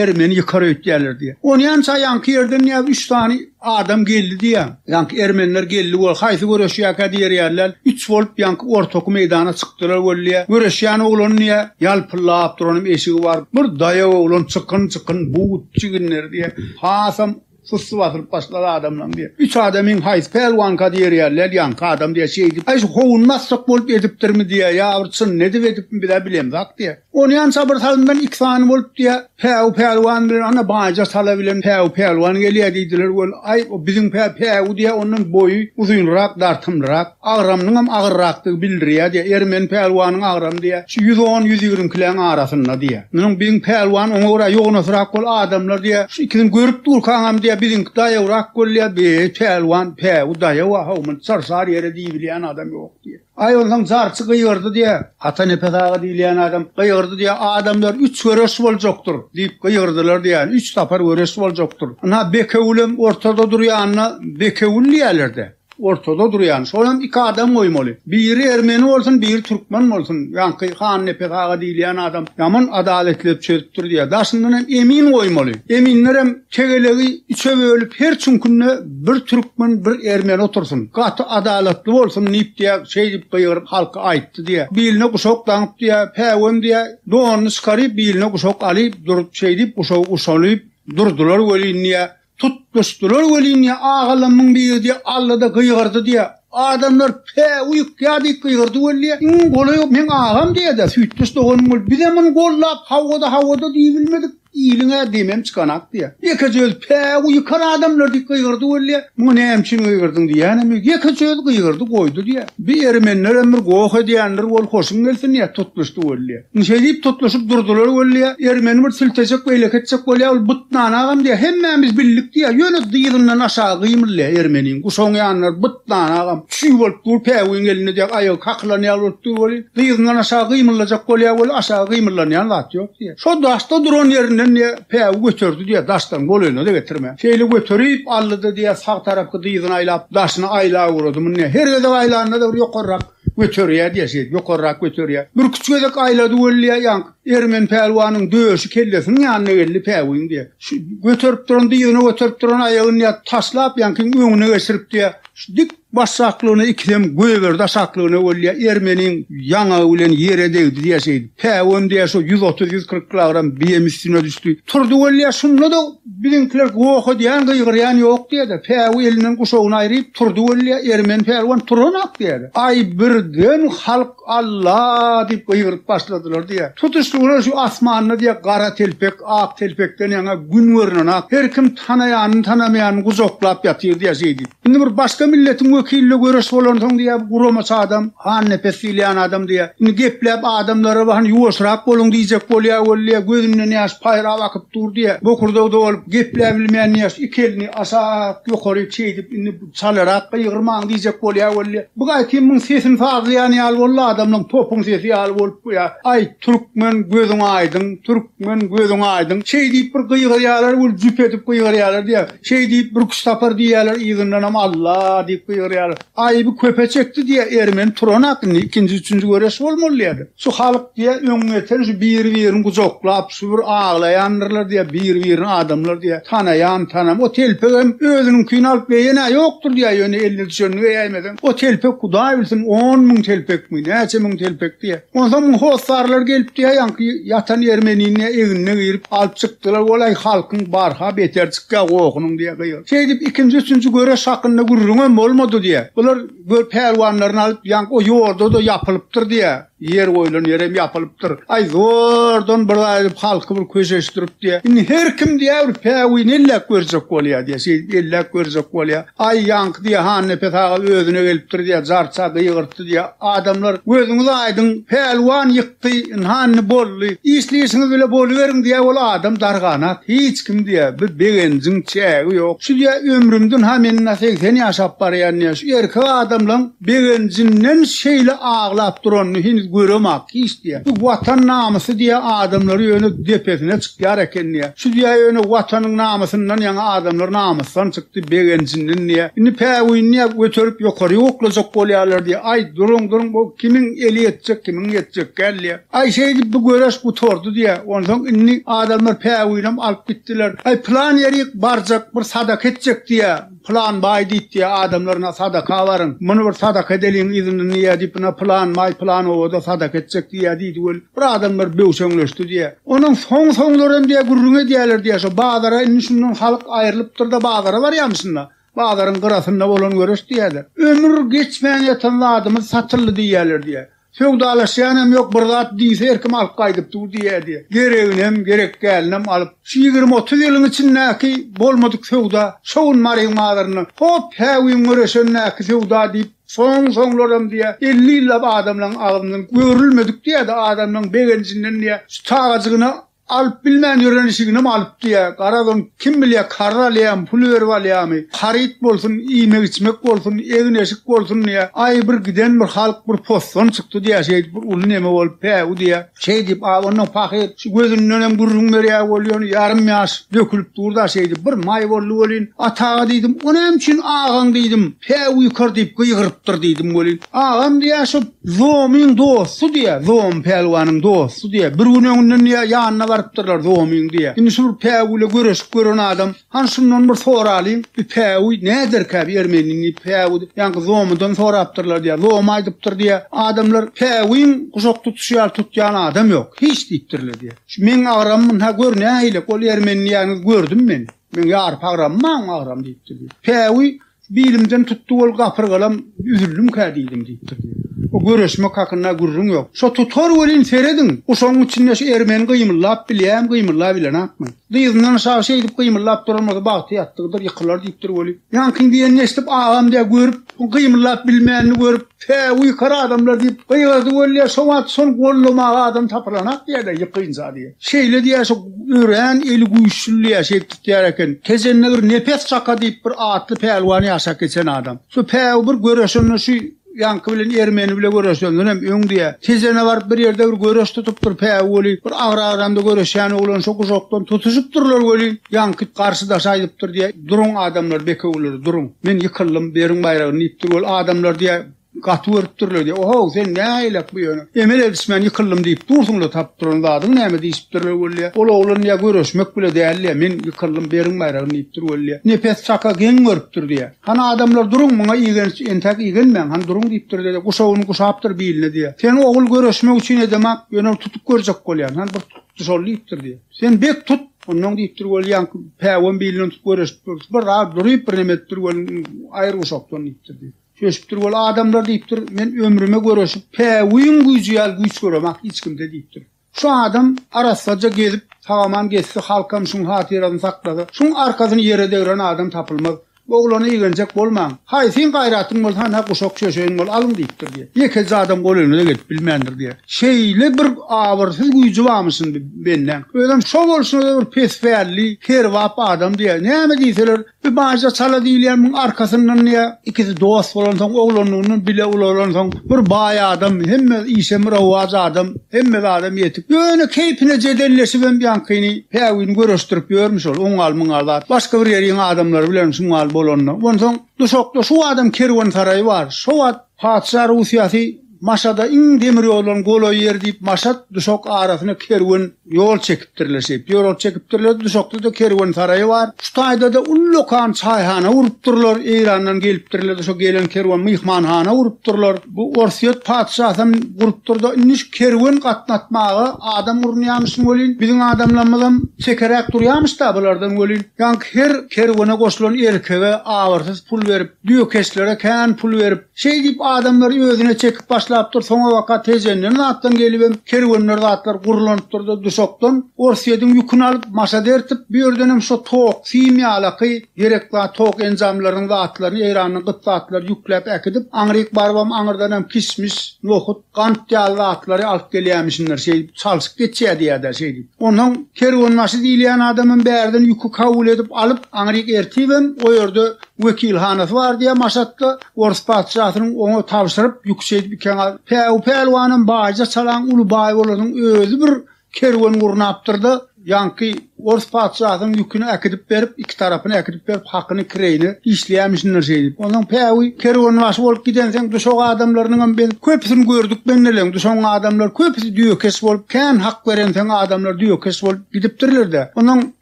ermeni ýykar öýtýärler diýýär. Ony ýança ýaňky ýerden näb üç sany adam geldi diýýär. Ýaňky ermeniler geldi we haýsy göreşýärkä diýerýärler. Üç bolup ýaňky ortaky meýdana çykdylar weli diýýär. Göreşýän oglan diýýär, ýalpyllap duranam eşigi bar. Bir daýaw oglan çykyn-çykyn, but, çiginleri diýýär. Hasam Sussy basylyp başlady adamlaň diýe. Üç adam iň haýsy pälwanka diýerýär, lelýanka adam diýe şeýdip, aý şu howun basjak bolup edipdirmi diýe, ýa bir çyn edip edipmi bizä bilemzak diýe. Ony ýan çabyr salymdan iki sany bolup diýe, päwü pälwan bilen ana baýja sala bilen päwü pälwan gelýä diýdiler weli, aý o biziň pä päwü diýe ondan boýy uzynrak dartymlyrak. Agramynyňam agyrrakdygy bildirýär diýýär. Ermeni pälwanyň agramy diýýär, şu ýüz on, ýüz ýigrimkiläň arasynda diýýär. Munuň biziň pälwan oňa görä ýognasrak bol adamlar diýýär. Şu ikisini görüp durkaňam diýýär, biziňki daýawrak bol diýýär. Beý, pälwan, päwü daýaw-a, haw, muny çar-çar ýere diýibilýän adam ýok diýýär. Aý, onsoň jarçy gygyrdy diýýär. Atanepes aga diýilýän adam gygyrdy diýýär, Adamlar, üç göreş boljakdyr! diýip gygyrdylar diýýär. Üç sapar göreş boljakdyr. Ynha, Bekewülem ortada durýanyna Bekewül diýýärler-dä. Ortada durýan. Şol hem iki adam goýmaly. Biri ermeni bolsun, biri türkmen bolsun. Ýaňky Hannepes aga diýilýän adam ýaman adaletlep çözüpdir diýýär. Daşyndan hem emin goýmaly. Eminler hem tegelegi üçe bölüp, her çüňkünde bir türkmen, bir ermeni otursyn. Gaty adalatly bolsun diýip diýýär, şeýdip gygyryp halka aýtdy diýýär. Biline guşak daňyp diýýär, päwem diýýär, donuny çykaryp, biline guşak alyp durup, şeýdip guşagy guşalyp durdular welin diýýär. Tutuşdylar welin ýa agalamyň biri diýýär, Allada gygyrdy diýýär. Adamlar Päwü ýykýar diýip gygyrdy weli, iň golaýy meň agam diýýär-de, süýtdeş doganym bolup, bizem muny goldap, hawada, hawada diýibilmedik, iliň-ä demem çykanak diýýär. Ýekeje özi Päwü ýykar adamlar diýip gygyrdy weli, muňa näme üçin gygyrdyn diýýänem ýok, ýekeje özi gygyrdy goýdy diýýär. Bir ermenlerem bir goh edýändir, wol hoşuň gelsin diýýär, tutuşdy weli. Indi şeýdip tutluşyp durdylar weli, ermeni bir siltejek, beýleki etjek bolýar, ol bytnany agam diýýär, hemmämiz bildik diýýär, ýöne dyzyndan aşagy gymyldaýar ermeniniň, guşagyň ýanynda bytnany agam, çüý bolup dur, päwügiň elinde diýýär, aýagy kakylan ýaly bolup dur weli, dyzyndan aşagy gymyldajak bolýar weli, aşagy gymyldanýan zat ýok diýýär. Şo daşda duran ýerinden diýýär, päwügi göterdi diýýär, daşdan golaýyna-da getirmän. Şeýle göterip aldy-da diýýär, sag tarapky dyzyny aýlap, daşyny aýlaguradymyny diýýär, her gezek aýlanda-da bir ýokarrak, Göterýär diýýär şeýdip, ýokarrak göterýär. Birküç gezek aýlady weli ýaňk, Ermen pälwanyň döşi kellesiniň ýanyna geldi päwügiň diýýär. Şu göterip duran dyzyna göterip duran aýagyny diýýär, taşlap ýaňkyň öňüne geçirip diýýär, şu dik başaklygyna ikisem goýberdi aşaklygyna weli diýýär, Ermeniň ýaňagy bilen ýere degdi diýýär şeýdip. Päwügem diýýär şo ýüz otuz, ýüz kyrk kilogram biýem üstüne düşdi. Turdy weli diýýär, şunda-da Biziňkiler goh edýän, gygyrýan ýok diýýä-de, päwi elinden guşagyny aýryp, turdy welli, ermeni pälwan turanok diýýä-de. Aý, birden halk Alla! diýip gygyryp başladylar diýýä. Tutuşlygyna şu asmanda diýýä gara telpek, ak telpekden ýaňa gün görnenak, her kim tanaýanyny-tanamaýanyny gujaklap ýatyr diýýä şeýdip. Indi bir başga milletiň wekiline göreş bolansoň diýýär, bu guramaçy adam, hannepes diýilýän adam diýýär. Indi gepläp adamlara hany ýuwaşrak boluň diýjek bolýar weli diýýär, gözünden ýaş paýrap akyp dur diýýär. Bokurdagda bolup gepläbilmeýän diýýär, iki elini aşak ýokaryk şeýdip, indi çalarak gygyrmaň diýjek bolýar weli diýýär. Bu aýtym muň sesini sazlaýan ýaly boldy, adamlaň topuň sesi ýaly bolup bu ýa, Aý, türkmen gözüň aýdyň, türkmen gözüň aýdyň. Şeý diýip bir gygyrýarlar weli jüp edip gygyrýarlar diýýär. Şeý diýip, bürküç tapar diýýärler, yzyndanam Alla! diýip gygyrýarlar. Aýby köpe çekdi diýýär, ermeni turanok indi, ikinji-üçünji göreş bolmaly diýýärler. Şu halk diýýär, öň geçen şu biri-birini gujaklap, şu bir aglaýandyrlar diýýär, biri-birini adamlar diýýär, tanaýan, tanam, o telpegem özüniňkini alyp beýen-ä ýokdur diýýär, ýöne eline düşenini beýäýmesem, o telpek hudaý bilsin, on müň telpekmi, näçe müň telpek diýýär. Onsoň muň hossarlary gelip diýýär, ýaňky ýatan ermenini diýýär, egnine girip, alyp çyk. Dylar bolaý halkyň barha beter çykýa gohunyň diýe gygyryp. Şeýdip ikinji üçünji göreş hakynda gürrüňem bolmady diýe. Bular gör pälwanlaryny alyp ýaňk o ýoldada ýapylypdyr diýe. Ýer goýlan ýerem ýapylypdyr. Aý zordan bir zat edip halky bir köşeşdirip diýe. Indi her kim diýe bir päwini elläp görjek bolýa diýe. Şeýdip elläp görjek bolýa. Aý ýaňky diýe Hannepes aga özüne gelipdir diýe jarça gygyrtdy diýe. Adamlar gözüňiz aýdyň pälwan ýyk. Ýitdi, ynha indi boldy. Işli işiňiz bile boluberiň diýýä ol adam darganat. Hiç kim diýýä, bir begenjiň çägi ýok. Şu diýýä ömrümde ynha men ynha segsen ýaşap barýan diýýä, şu erkek adamlaň begenjinden şeýle aglap duranyny heniz göremok hiç diýýä. Bu Watan namysy diýýä adamlary ýöne depesine çykýar eken diýýä. Şu diýýä ýöne Watanyň namysyndan ýaňa adamlar namysdan çykdy, begenjinden diýýä. Indi päwüýni diýýä göterip ýokary oklajak bolýarlar diýýä. Aý, duruň, duruň, bu Kimiň eli ýetjek, kimiň ýetjek gelýä. Aý şeýdip bu göreş gutardy diýä. Onsoň indi adamlar päwüýinem alyp gitdiler. Aý pylan ýerik barjak, bir sadaka etjek diýä. Pylan baý diýip diýä adamlar ina sadaka baryň. Muny bir sadaka edeliň yzyndan diýä diýip ina pylan baý pylan obada sadaka etjek diýä diýdi weli. Bir adamlar böwşeňleşdi diýä. Onuň soň-soňlaram diýä gürrüň edýäler diýä. Şo bazara indi şundan halyk aýrylypdyr-da bazara barýamyşyn-la. Bazaryň gyrasynda bolan göreş diýýärler. Ömür geçmän ýatan zadymyz satyldy diýýärler diýýär. Söwdalaşýanam ýok, bir zat diýse her kim alyp gaýdyp dur diýýär diýýär. Gereginem, gerek dälinem alyp, şu ýigrimi-otuz ýylyň içindäki bolmadyk söwda, şo gün Maryň bazarynda, hop, hä gün göreşendäki söwda diýip, soň-soňlaram diýýär, elli ýyllap adamlaň agzyndan görülmedik diýýär-de, adamlaň begenjinden diýýär, şu çagajygyna Alyp bilmän ýören işiginem alyp diýýä. Garaz ony kim bilýä karz alýamy, pul berip alýamy. Haryt bolsun, iýmek-içmek bolsun, egin-eşik bolsun diýýä. Aý bir giden bir halk bir posson çykdy diýýä şeýdip bir uly neme bolup päwü diýýä. Şeý diýip a ondan pahyr şu gözündenem gürrüň berýä ol ýöne ýarym ýaş dökülip durda şeýdip bir maý boldy welin. Ataga diýdim o näme üçin agaň diýdim päwü ýykar diýip gygyrypdyr diýdim welin. Agam diýýä şu Zomyň dosty diýýär, Zom pälwanyň dosty diýýär. Bir gün öňünden diýýär, ýanyna barypdyrlar Zomyň diýýär. Indi şu bir päwüle göreşip gören adam, Hany şundan bir soralyň, bi päwü näderkä, bi ermeniniň diýip, päwü ýaňky Zomydan sorapdyrlar diýýär. Zom aýdypdyr diýýär, Adamlar päwüň guşak tutuşy ýaly tutýan adam ýok, hiç diýipdirler diýýär. Şu meň agramym munha gör nähili, ol ermeni diýýäniňizi gördüm men. Meň ýaryp agramym maňa agram diýipdir diýýär. Päwü Bilimden tutdy ol gapyrgalam, üzüldimkä diýdim diýipdir diýip. O göreşmek hakynda gürrüň ýok. Şo tutar welin, serediň, guşagyň içinde şu ermeni gymyldap bilýämi, gymyldap ilenakmy? Dyzyndan aşak şeýdip gymyldap duran bolsa bagty ýatdygydyr, ýykylar diýipdir weli. Ýaňkyň diýenini eşidip agam diýýär, görüp, gymyldap bilmänini görüp. Tä uýkar adamlar diýip gygyrdy weli şo wagt şony gollamaga adam tapylanak diýerler ýykynja diýip. Şeýle diýä şo örän eli güýçli diýä şeýdip tutýar eken. Tejende bir Nepes kaka diýip bir atly pälwan ýaşap geçen adam. Şo päw bir göreşende şu ýaňky bilen ermeni bile göreşenden hem öň diýä. Tejene baryp bir ýerde bir göreş tutupdyr päw weli bir agyr agramda göreşýän oglan şo guşakdan tutuşypdyrlar weli ýaňky garşydaşa aýdypdyr diýä. Duruň, adamlar, bekewüler, duruň! Men ýykyldym, beriň baýragyny, diýipdir. Ol adamlar diýýä, Gaty görüpdirler diýýä. Ohow, sen näleýlek bu ýöne? Emel edişmän ýykyldym diýip dursuň-la, tapyp duran zadyň näme? diýşipdirler welliä. Ol oglan diýýä, Görüşmek bile däl diýýä, men ýykyldym, beriň baýragyny, diýipdir welliä. Nepes çaka geň görüpdir diýýä. Hany, adamlar, duruň, muňa igenç, entäk igenmäň, hany, duruň, diýipdir-de, guşagyny guşapdyr biline diýýä. Sen, ogul, görüşmek üçin edemok, ýöne tutup görjek bolýan, hany, bir Şol diýipdir diýýär. Sen bek tut, onnoň diýipdir weli ýaňky päwem bilinden tutup göreşip durus, bir zat duryp, birneme edipdir weli aýyr bu şokdan diýipdir diýip. Şeýşipdir weli adamlar diýipdir, men ömrüme göreşip, päwüiň güýji ýaly güýç göremak hiç kimde diýipdir. Şu adam arassaja gezip, sagaman gezse, halkam şuň hatyrasyny saklasa, şuň arkasyny ýere degren adam tapylmaz. Oglany igenjek bolmaň. Haý, seň gaýratyň bolsa hany-ha guşak çöşeýin bol, alyň diýipdir diýýär. Ýekeje adam gol öňüne-de gelip bilmändir diýýär. Şeýle bir abyrsyz güýji barmyşyn bi bendeň. Özem şo bolşuna-da bir pes pälli, kerbap adam diýýär. Näme diýseler, bi baýja çala diýilýän muň arkasyndan diýýär, ikisi dost bolansoň, oglanlygyndan bile ulalansoň, bir baý adam, hemme işe myrowaç adam. Hemme zadam ýetik. Ýöne keýpine jedelleşibem ýaňkyny päwini göreşdirip ýörmüş ol, oň gal, muň gal zat. Başga bir ýeriň adamlary bilen şuň gal bolanda. Onsoň duşakda şu wagtam kerwensaraý bar. Şo wagt patyşa Russiýasy Maşada iň demir ýollaryň golaý ýeri diýip Maşat, Duşak arasyna kerwen ýol çekipdi. Birleşip, ýorag çekipdirler, duşakda-da kerwen saraýy bar. Şu taýda-da ullakan çaýhana gurupdyrlar, Eýrandan gelipdirler, duşa gelen kerwen myhmanhana gurupdyrlar. Bu Orsýet patyşasam gurupdyr-da, indi şu kerwen gatnatmaga adam urunýamyşyn welin, biziň adamlarymyzam çekeräk durýamyş-da bulardan welin, ýaňky her kerwene goşulan erkege abyrsyz pul berip, düýekeşlere kän pul berip, Şeýdip, adamlary özüne çekip başlapdyr, soňabaka Tejenden zatdan gelibem, kerwenler zatlar gurulanypdyr-da, Duşakdan Orsýediň ýüküni alyp, Maşa dertip, bu ýerdenem şo tok, sim ýalaky gerek zat, tok enjamlarynyň zatlaryny, eýranyň gyt zatlary ýükläp äkidip, aňryk barybam, aňyrdanam kişmiş, nohut, Gant ýaly zatlary alyp gelýämişindir, şeýdip, çalşyp geçýär diýýär-dä şeýdip. Onsoň kerwenbaşy diýilýän adamam bärden ýüki kabul edip alyp, aňryk ertibem, o ýerde wekilhanasy bar diýýär Maşatda, orus patyşasynyň oňa tabşyryp, ýüki şeýdip ikeňa, Päwü pälwanam baýja çalaň uly baý bolanyň özi bir Kerwen gurnapdyr-da, ýaňky ors patyşasynyň ýüküni äkidip berip, iki tarapyny äkidip berip, hakyny kireýine işleýämişindir şeýdip. Onsoň päwü kerwenbaşy bolup gidenseň, duşak adamlarynyňam biz köpüsini gördük mendeleň. Duşagyň adamlary köpüsi düýekeş bolup, kän hak berenseň adamlar düýekeş bolup gidipdirler-de. Onsoň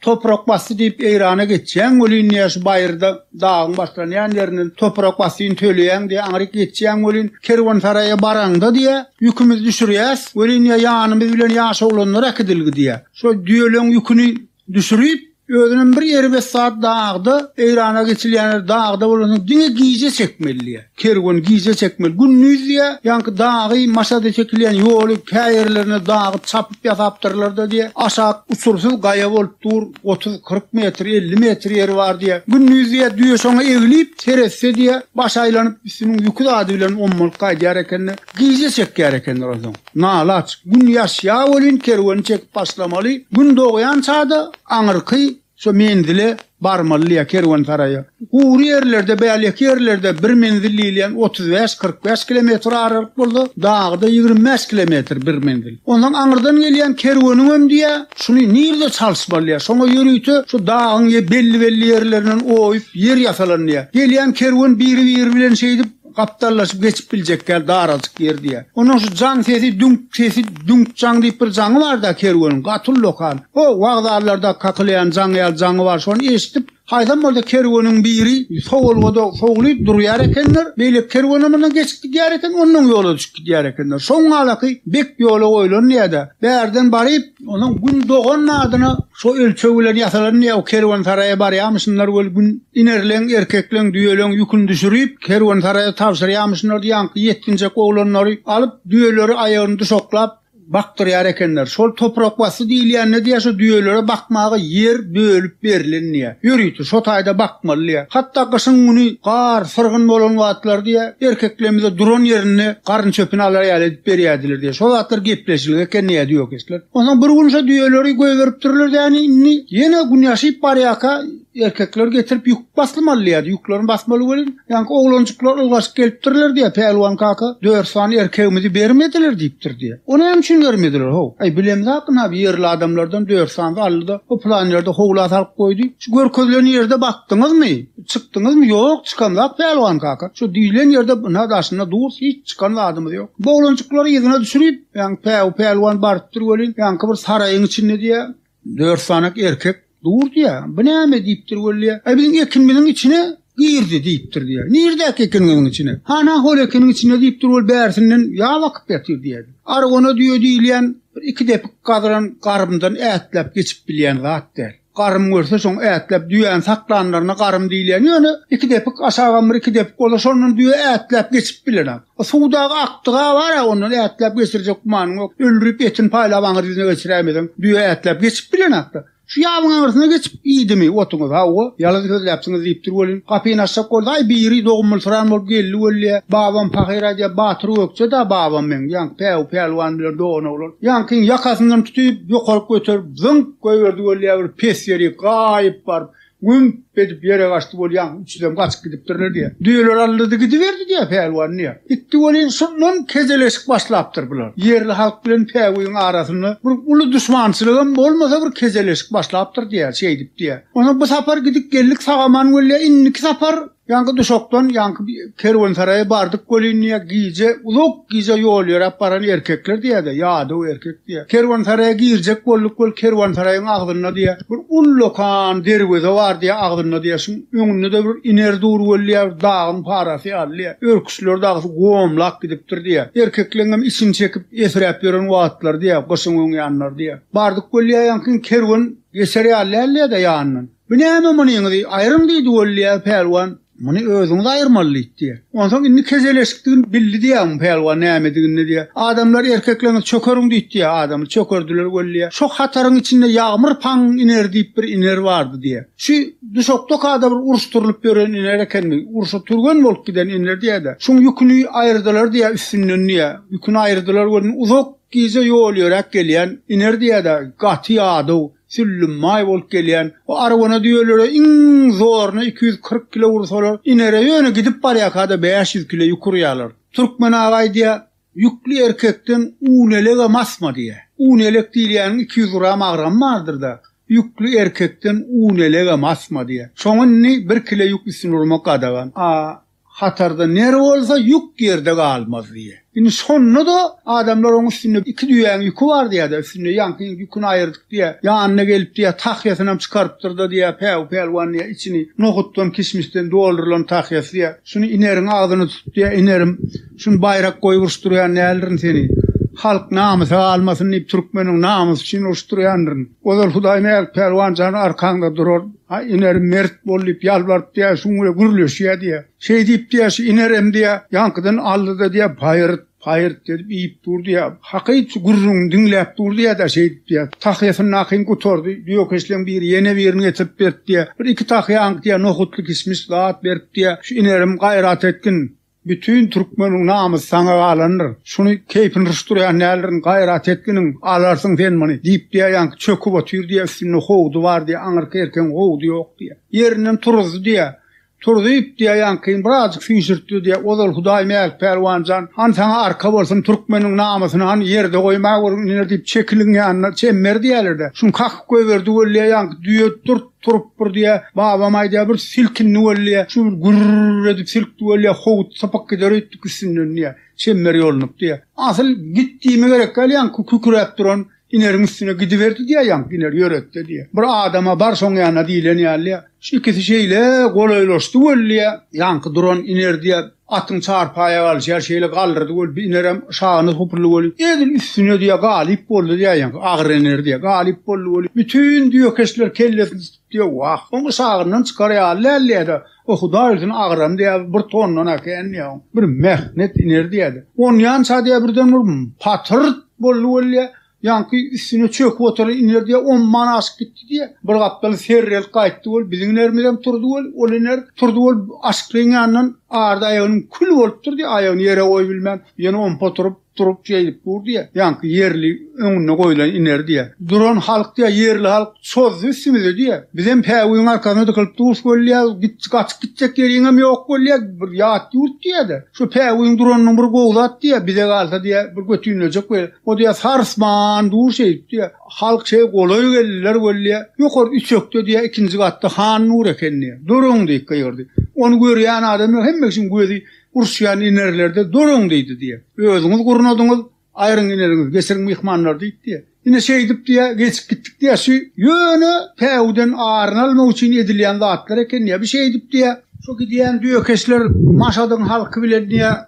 toprak basdy diýip Eýrana geçýäň welin, diýýär, şu baýyrda Dagyň başlanýan ýerinden toprak basyn töleýäň diýýär, aňryk geçýäň welin, kerwensaraýa baraňda diýýär, ýükümizi düşürýäs, welin, diýýär, ýanymyz bilen ýaş oglanlar äkidilgi diýýär. Şo düýeleň ýüküni düşürip, özünem bir erbet zat dagda, Eýrana geçilýän ýer dagda bolansoň diňe gije çekmeli diýýär. Kerwen gije çekmeli. Gündiz diýýä, ýaňky dagy, maşada çekilýän ýoly, käýerlerine dagy çapyp ýasapdyrlar-da diýýä. Aşak uçursyz gaýa bolup dur, otuz, kyrk metr, elli metr ýeri bar diýýä. Gündiz diýýä, düýe şoňa eglip, seretse diýýä, baş aýlanyp, üstüniň ýüki zady bilen ommalyp gaýdýar eken-de, gije çekýär ekenler onsoň. Nalaç. Gün ýaşýa welin kerweni çekip başlamaly. Gün dogýan çada aňyrky Şo menzile barmalydy ýa kerwensaraýa. Gury ýerlerde, bäleki ýerlerde bir menzil diýilýän otuz bäş, kyrk bäş kilometr aralyk bolsa, dagyda ýigrimi bäş kilometr bir menzil. Onsoň aňyrdan gelýän kerweniňem diýýä, şuny nirde çalyşmaly diýýä. Şoňa ýörite şu dagyň ýe belli-belli ýerlerinden oýup, ýer ýasalan diýýä. Gelýän kerwen biri-biri bilen şeýdip, Gapdallaşyp geçip biljek ýaly darajyk ýer diýýär. Onuň şu jaň sesi, düňk sesi, düňk jaň diýip bir jaňy bar-da kerweniň, gaty uly okan. O, wokzallarda kakylaýan jaň ýaly jaňy bar, şony eşidip, haýsam bolsa kerweniň biri sowulga-da sowlup durýar ekenler, beýleki kerwenem mundan geçip gidýär eken, onnoň ýola düşüp gidýär ekenler. Şoň alaky bek ýola goýlandy ýa-da, bärden baryp, Onuň Gün dogan adyna şo ölçeg bilen ýasalan ýa-u kerwensaraýa barýamyşynlar weli Gün inerleň, erkekleň, düýeleň ýüküni düşürip, kerwensaraýa tabşyrýamyşynlar, ýaňky ýetginjek oglanlary alyp, düýeleri aýagyny duşaklap bakdyrýar ekenler. Şol toprakbasdy diýilýänine diýýär, şo düýelere bakmaga ýer bölüp berlendiýä. Ýörite şo taýda bakmaly diýýär. Hatda gyşyň güni gar, syrgyn bolan wagtlary diýýär, erkeklemize duran ýerinde garyn çöpüni alar ýaly edip berýärdiler diýýär. Şo zatlar gepleşilgi eken diýýär düýekeşler. Onsoň bir gün şo düýeleri goýberipdirler däni, indi ýene gün ýaşyp barýarka erkekleri getirip ýük baslymaly diýýär, ýüklerini basmaly welin, Ýaňky oglanjyklar ylgaşyp gelipdirler diýýär, Pälwan kaka, dört sany erkegimizi bermediler diýipdir diýýär. O näme üçin bermediler, how? Aý, bilemzä akyn abi, ýerli adamlardan dört sany aldy-da, o pylan ýerde howla salyp goýdy. Şu görkezilen ýerde bakdyňyzmy? Çykdyňyzmy? Ýok, çykamzak Pälwan kaka. Şu diýlen ýerde ynha daşynda durus, hiç çykan zadymyz ýok. Bu oglanjyklary yzyna düşürip, ýaňky Päwü pälwan barypdyr welin, ýaňky bir saraýyň içinde diýýär. Dört sanak erkek dur diýýär. Bu näme diýipdir weli? Aý biziň ekinimiziň içine girdi diýipdir diýýär. Nirdäki ekiniňiziň içine? Hana hol ekiniň içine diýipdir weli bärsinden ýa bakyp ýatyr diýýär. Argona düýe diýilýän bir iki depik gazylan garymdan ätläp geçip bilýän zat däl. Garym görse şoň ätläp düýäni saklanlaryna garym diýilýän ýöne iki depik aşagam bir iki depik bolsa şondan düýe ätläp geçip bilenok. O suwdaky akdyga bar-a, ondan ätläp geçirjek gümanyň ýok. Öldürip, etini paýlap aňyr ýüzüne geçiräýmeseň, düýe ätläp geçip bilenok-da. Şu ýabyň aňyrsyna geçip iýdimi otuňyz? Hawa, ýalan sözläpsiňiz diýipdir welin, gapyny açjak bolsa-aý biri dogumlysran bolup geldi welli-ä, Babam pahyr aýdýar, Batyr Gökje-dä babam meň, ýaňky Päwü pälwan bilen dogan oglan. Ýaňkyň ýakasyndan tutup, ýokaryk göterip, zyňk goýberdi welli-ä bir pes ýerik, gaýyp baryp, Gümp edip ýere gaçdy bolýaň, üçüsem gaçyp gidipdirler diýýär. Düýeler alyrdy gidiberdi diýýär Pälwan diýýär. Gitdi welin, şondan kejeleşik başlapdyr bular. Ýerli halk bilen Päwügiň arasynda bir uly duşmançylygam bolmasa bir kejeleşik başlapdyr diýýär, şeýdip diýýär. Onsoň bu sapar gidip geldik sag-aman welin, indiki sapar Ýaňky duşakdan ýaňky kerwensaraýa bardyk welin diýýär, gije, uzak gije ýol ýöräp baran erkekler diýýär-de, ýadaw erkek diýýär. Kerwensaraýa girjek bolduk weli kerwensaraýyň agzynda diýýär, bir ullakan derweze bar diýýär, agzynda diýýär, şuň öňünde-de bir iner dur weli diýýär, bir dagyň parasy ýaly diýýär. Örküçleri dagysy gomlap gidipdir diýýär. Erkekleň hem içini çekip esiräp ýören wagtlary diýýär, gyşyň öň ýanlary diýýär. Bardyk weli diýýär, ýaňky kerwen geçer ýaly däldi ýa-da ýanyndan. Bu näme munyňyzy aýryň diýdi Weliýaz pälwan, muny özüňiz aýyrmaly diýdi diýýär. Onsoň indi keseleşikdigini bildi diýýär bu pälwan nämedigini diýýär. Adamlar erkekleňiz çökeriň diýdi diýýär adamy çökerdiler Weliýa. Şo hataryň içinde Ýagmyr paň iner diýip bir iner bardy diýýär. Şu duşakdakada bir uruşdyrylyp ýören iner ekenmi, urşa türgen bolup giden iner diýýär-de, şuň ýüküni aýyrdylar diýýär üstünden diýýär. Ýüküni aýyrdylar welin uzak gije ýol ýöräp gelýän iner diýýär-de, gaty ýadaw, Süllüm maý bolup gelýän bu arwana düýelere iň zoruna iki ýüz kyrk kilo ursalar inere ýöne gidip barýarkada bäş ýüz kilo ýük urýarlar. Türkmen aga aýdýa, Ýükli erkekden un elegem asma diýýä. Un elek diýilýäniň iki ýüz gram agramy bardyr-da. Ýükli erkekden un elegem asma diýýä. Şoňa indi bir kile ýük üstüne urmak gadagan. A. Hatarda nere bolsa ýük ýerde galmaz diýýä. Indi şonda-da adamlar oň üstünde iki düýäň ýüki bar diýýä-de, üstünde ýaňky ýüküni aýyrdyk diýýä. Ýanyna gelip diýýä, tahýasynam çykarypdyr-da diýýä, Päwü pälwan diýýä, içini nohutdan, kişmişden doldurylan tahýasy diýýä. Şuny ineriň agzyny tut diýýä, inerim. Şuny baýrak goýup uruşdyrýan däldirin seni. Halk namysa galmasyn diýip türkmeniň namysy üçin uruşdyrýandyryn. Ozal Hudaýmälik pälwan jan arkaňda durar. A Iner, mert bol diýip ýalbaryp diýýär, şuň bilen gürleşýär diýýär. Şeý diýip diýýär, şu Inerem diýýär, ýaňkydan aldy-da diýýär, paýyrt, paýyrt edip iýip dur diýýär. Hakyt şu gürrüňini diňläp dur diýýär-de, şeý diýip diýýär, tahýasyndakyn gutardy, düýekeşleň biri ýene birini getirip beripdi diýýär. Bir-iki tahýaňky diýýär, nohutly-kişmiş zat beripdi diýýär. Şu Inerim gaýrat etgin. Bütin türkmeniň namysy saňa galandyr. Şuny keýpini ruşdurýan däldirin, gaýrat etginiň, alarsyň sen muny. Diýip diýýär, ýaňky çöküp otyr diýýär, üstünde howdy bar diýýär, aňyrky erkegiň howdy ýok diýýär. Ýerinden turuzdy diýýär. Turuzyp diýýär, ýaňkyny birazjyk süýşürtdi diýýär. Ozal Hudaý Mälik pälwan jan, han saňa arka bolsun, türkmeniň namysyny han ýerde goýma görgin iner diýip, çekiliň ýanyna çemmer diýýärler-de. Şuny kakyp goýberdi weli diýýär, ýaňky düýe durt. Turup bir diýýä, babam aýdýar, bir silkindi weli diýýä, şu bir gürr edip silkdi weli diýýä, howut sypyp gider öýtdük üstünden diýýä, çemmer ýolunyp diýýä. Asyl git diýme gerek däl, ýaňky küküräp duran Ineriň üstüne gidiberdi diýýä, ýaňky Iner ýöretde diýýä. Bir adama bar şoň ýanyna diýlen ýaly diýýä. Şu ikisi şeýle golaýlaşdy weli diýýä, ýaňky duran Iner diýýä, Atyň çarpaýa galşýar, şeýle galdyrdy weli, bir inerem şagyny hupurly weli, edil üstüne diýýär, galyp boldy diýýär, ýaňky agyr iner diýýär, galyp boldy weli, bütin düýekeşler kellesini tutup diýýär, wah, oň şagyndan çykar ýaly däl diýýär-de, o hudaý bilsin agyram diýýär, bir tondan äken diýýär, oň bir mähnet iner diýýär-de, onýança diýýär, birden bir patyrt boldy weli diýýär, Ýaňky üstüne çöküp oturan iner diýýär, on man aşyp gitdi diýýär. Bir gapdal serrelip gaýtdy bolup, biziň inerimizem turdy bolup, ol iner turdy bolup, aşyklyň ýanyndan arda aýagynyň kül bolup durdy, aýagyny ýere goýubilmän, ýene ompa oturyp, durup şeýdip dur diýýär. Ýaňky ýerli öňüne goýlan iner diýýär. Duran halk diýýär, ýerli halk çozdy üstümize diýýär. Bizem päwügiň arkasyna dykylyp durus bolýas, git gaçyp gitjek ýeriňem ýok bolýar, bir ýat ýurt diýýär-de. Şu päwügiň duranynyň bir gowy zat diýýär, bize galsa diýýär, bir götinlejek we o diýýär sarsman dur şeýdip diýýär. Halk şeý golaý geldiler weli diýýär, ýokary üçekde diýýär, ikinji gatda han nur eken diýýär. Duruň diýip gygyrdy. Ony görýän adam ýok, hemme kişiň gözi urşýan inerlerde duruň diýdi diýýär. Özüňiz gurnadyňyz. Aýryň ineniňiz, geçiriň myhmanlary diýipdi. Ine şeýdipdi-ä, geçip gitdikdi-ä, şu ýöne päwüden aryny almak üçin edilýän zatlar eken-ä, bu şeýdipdi-ä. Şu gidýän düýekeşler Maşadyň halky bilen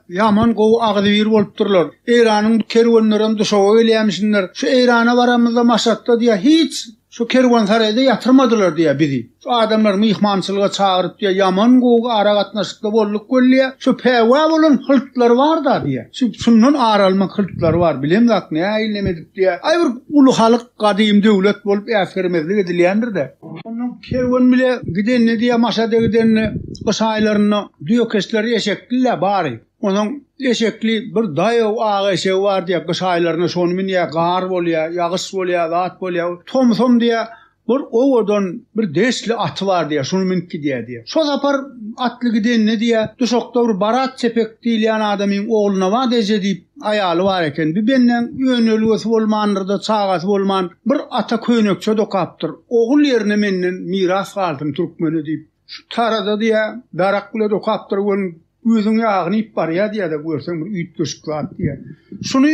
ýaman gowy agzybir bolupdyrlar. Eýranyň kerwenlerem Duşawa gelýämişinler. Şu Eýrana baramyzda Maşatda hiç Şu kerwensaraýda ýatyrmadylar diýýär bizi. Şu adamlar myhmançylyga çagyryp diýýär, ýaman gowy aragatnaşykda bolduk welli, şu päwa bolan hyltlary bar-da diýýär. Şu şundan ar almak hyltlary bar, bilemzok nähili neme edip diýýär. Aý bir uly halk, gadym döwlet bolup äsgermezlik edilýändir-de. Ondan kerwen bile gidende diýýär Maşada gidende, gyş aýlarynda düýekeşler eşekli-le bary. Onuň eşekli bir daýaw ak eşegi bar diýýär. Gyş aýlarynda şony münýär, gar bolýar, ýagyş bolýar, zat bolýar. Tomsam diýýär, bir owadan, bir deşli aty bar diýýär, şuny münüp gidýär diýýär. Şo sapar atly gidenine diýýär, duşakda bir Barat Çepek diýilýän adamyň Ogulnabat eje diýip aýaly bar eken. Bu bendäň önelgesi bolmandyr-da, çagasy bolman, bir ata köýnekçe dokapdyr. Ogul ýerine menden miras galsyn türkmene diýip. Şu tarada diýä darak bile dokapdyr welin gözüň ýagyny iýip barýa diýä-de görseň bir üýtgeşik zat diýä. Şuny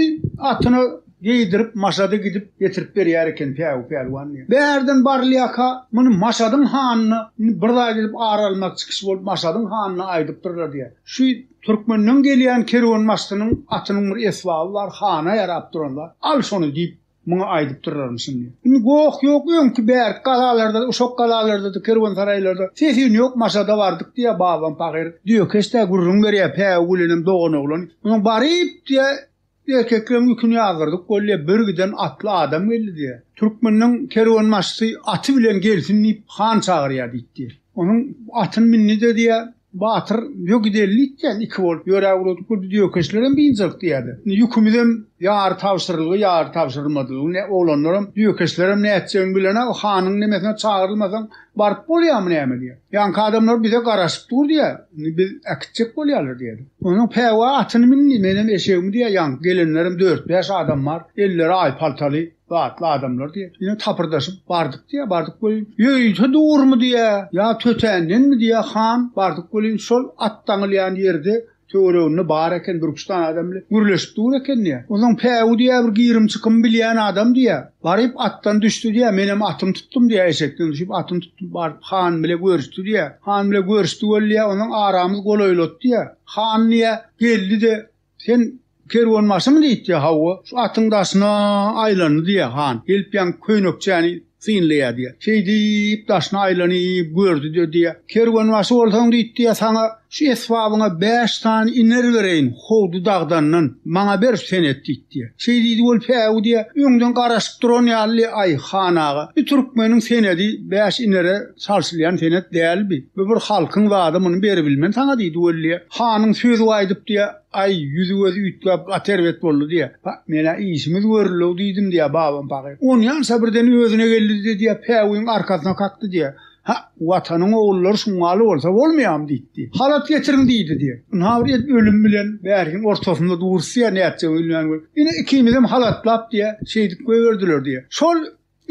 atyna geýdirip Maşady gidip getirip berýär eken Päwü pälwan diýä. Bärden barylýaka muny Maşadyň hanyna indi bir zaý gidip ar almak çykyş bolup Maşadyň hanyna aýdypdyrlar diýä. Şu Türkmenden gelýän kerwenbaşysynyň atynyň bir esbaby bar hana ýarap duran zat. Al şony diýip Muňa aýdyp duraryn şindi. Indi goh ýok, öňki bärki galalarda-da, uşak galalarda-da, kerwensaraýlarda ses-üýn ýok, Maşada bardyk diýýär babam pahyr. Düýekeş-dä gürrüň berýär, Päwü gülenem doganoglan. Munuň baryp diýýär, erkekleriň ýüküni ýazdyrdyk bolýar, bir giden atly adam geldi diýýär. Türkmeniň kerwenbaşysy aty bilen gelsin diýip, han çagyrýar diýipdi. Onuň atyny mindi-de diýýär, Batyr, Ýo gideli diýýän, iki bolup ýöräp ugradyk bir biz ýökeşlerem biynjak diýýärler. Indi ýükümizem ýary tabşyrylgy, ýary tabşyrylmadygy, ne oglanlaram, ýökeşlerem nätjegini bilenok, hanyň nemesine çagyrylmasaň baryp bolýamy näme diýýär. Ýaňky adamlar bize garaşyp dur diýýär, indi biz äkitjek bolýarlar diýýär. Onsoň Päwa atyny mindi, menem eşegimi diýýär, ýaňky gelenlerem dört-bäş adam bar, elleri aý paltaly. Datly adamlar diýýär. Ýöne tapyrdaşyp bardyk diýýär. Bardyk welin, ýöýse durmy diýýär, ýa tötändenmi diýýär, han, bardyk welin, şol at daňylýan ýerde töwereginde bar eken bir-üç sany adam bile gürleşip dur eken diýýär. Onsoň Päwü diýýär, bir girim-çykym bilýän adam diýýär. Baryp atdan düşdi diýýär. Menem atymy tutdum diýýär, eşekden düşüp atymy tutdum, baryp han bile görüşdi diýýär. Han bile görüşdi welin diýýär, onsoň aramyz golaýlady diýýär. Han diýýär, geldi-de, Sen kerwenbaşymy? diýipdi. Hawa, şu atyň daşyna aýlandy, diýýär han. Gelip ýaňky köýnekçäni synlaýar, diýýär. Şeýdip, daşyna aýlanyp gördi-de, diýýär. Kerwenbaşy bolsaň, diýipdi, saňa şu esbabyňa bäş sany iner bereýin, howdy dagdandan, maňa ber, sen et, diýipdi. Şeý diýdi bolup, Päwü, diýýär, öňden garaşyp duran ýaly, Aý, han aga, bu türkmeniň senedi bäş inere çalşylýan senet dälbi. Bu bir halkyň zady, muny beribilmen saňa, diýdi Weliýe. Hanyň sözi gaýdyp diýýär, Aý, ýüzi-gözi üýtgäp, gaty erbet boldy diýýär. Pa, men-ä işimiz görül-ow diýdim diýýär babam pahyr. Onýança birden özüne geldi-de diýýär, Päwügiň arkasyna kakdy diýýär. Ha, Watanyň ogullary şuňňaly bolsa bolmaýarmy diýipdi. Halat getiriň diýdi diýýär. Ynha bir et ölüm bilen bärhiň ortasynda durus diýýär, nätjegimi bilmän. Ine ikimizem halatlap diýýär, şeýdip goýberdiler diýýär. Şol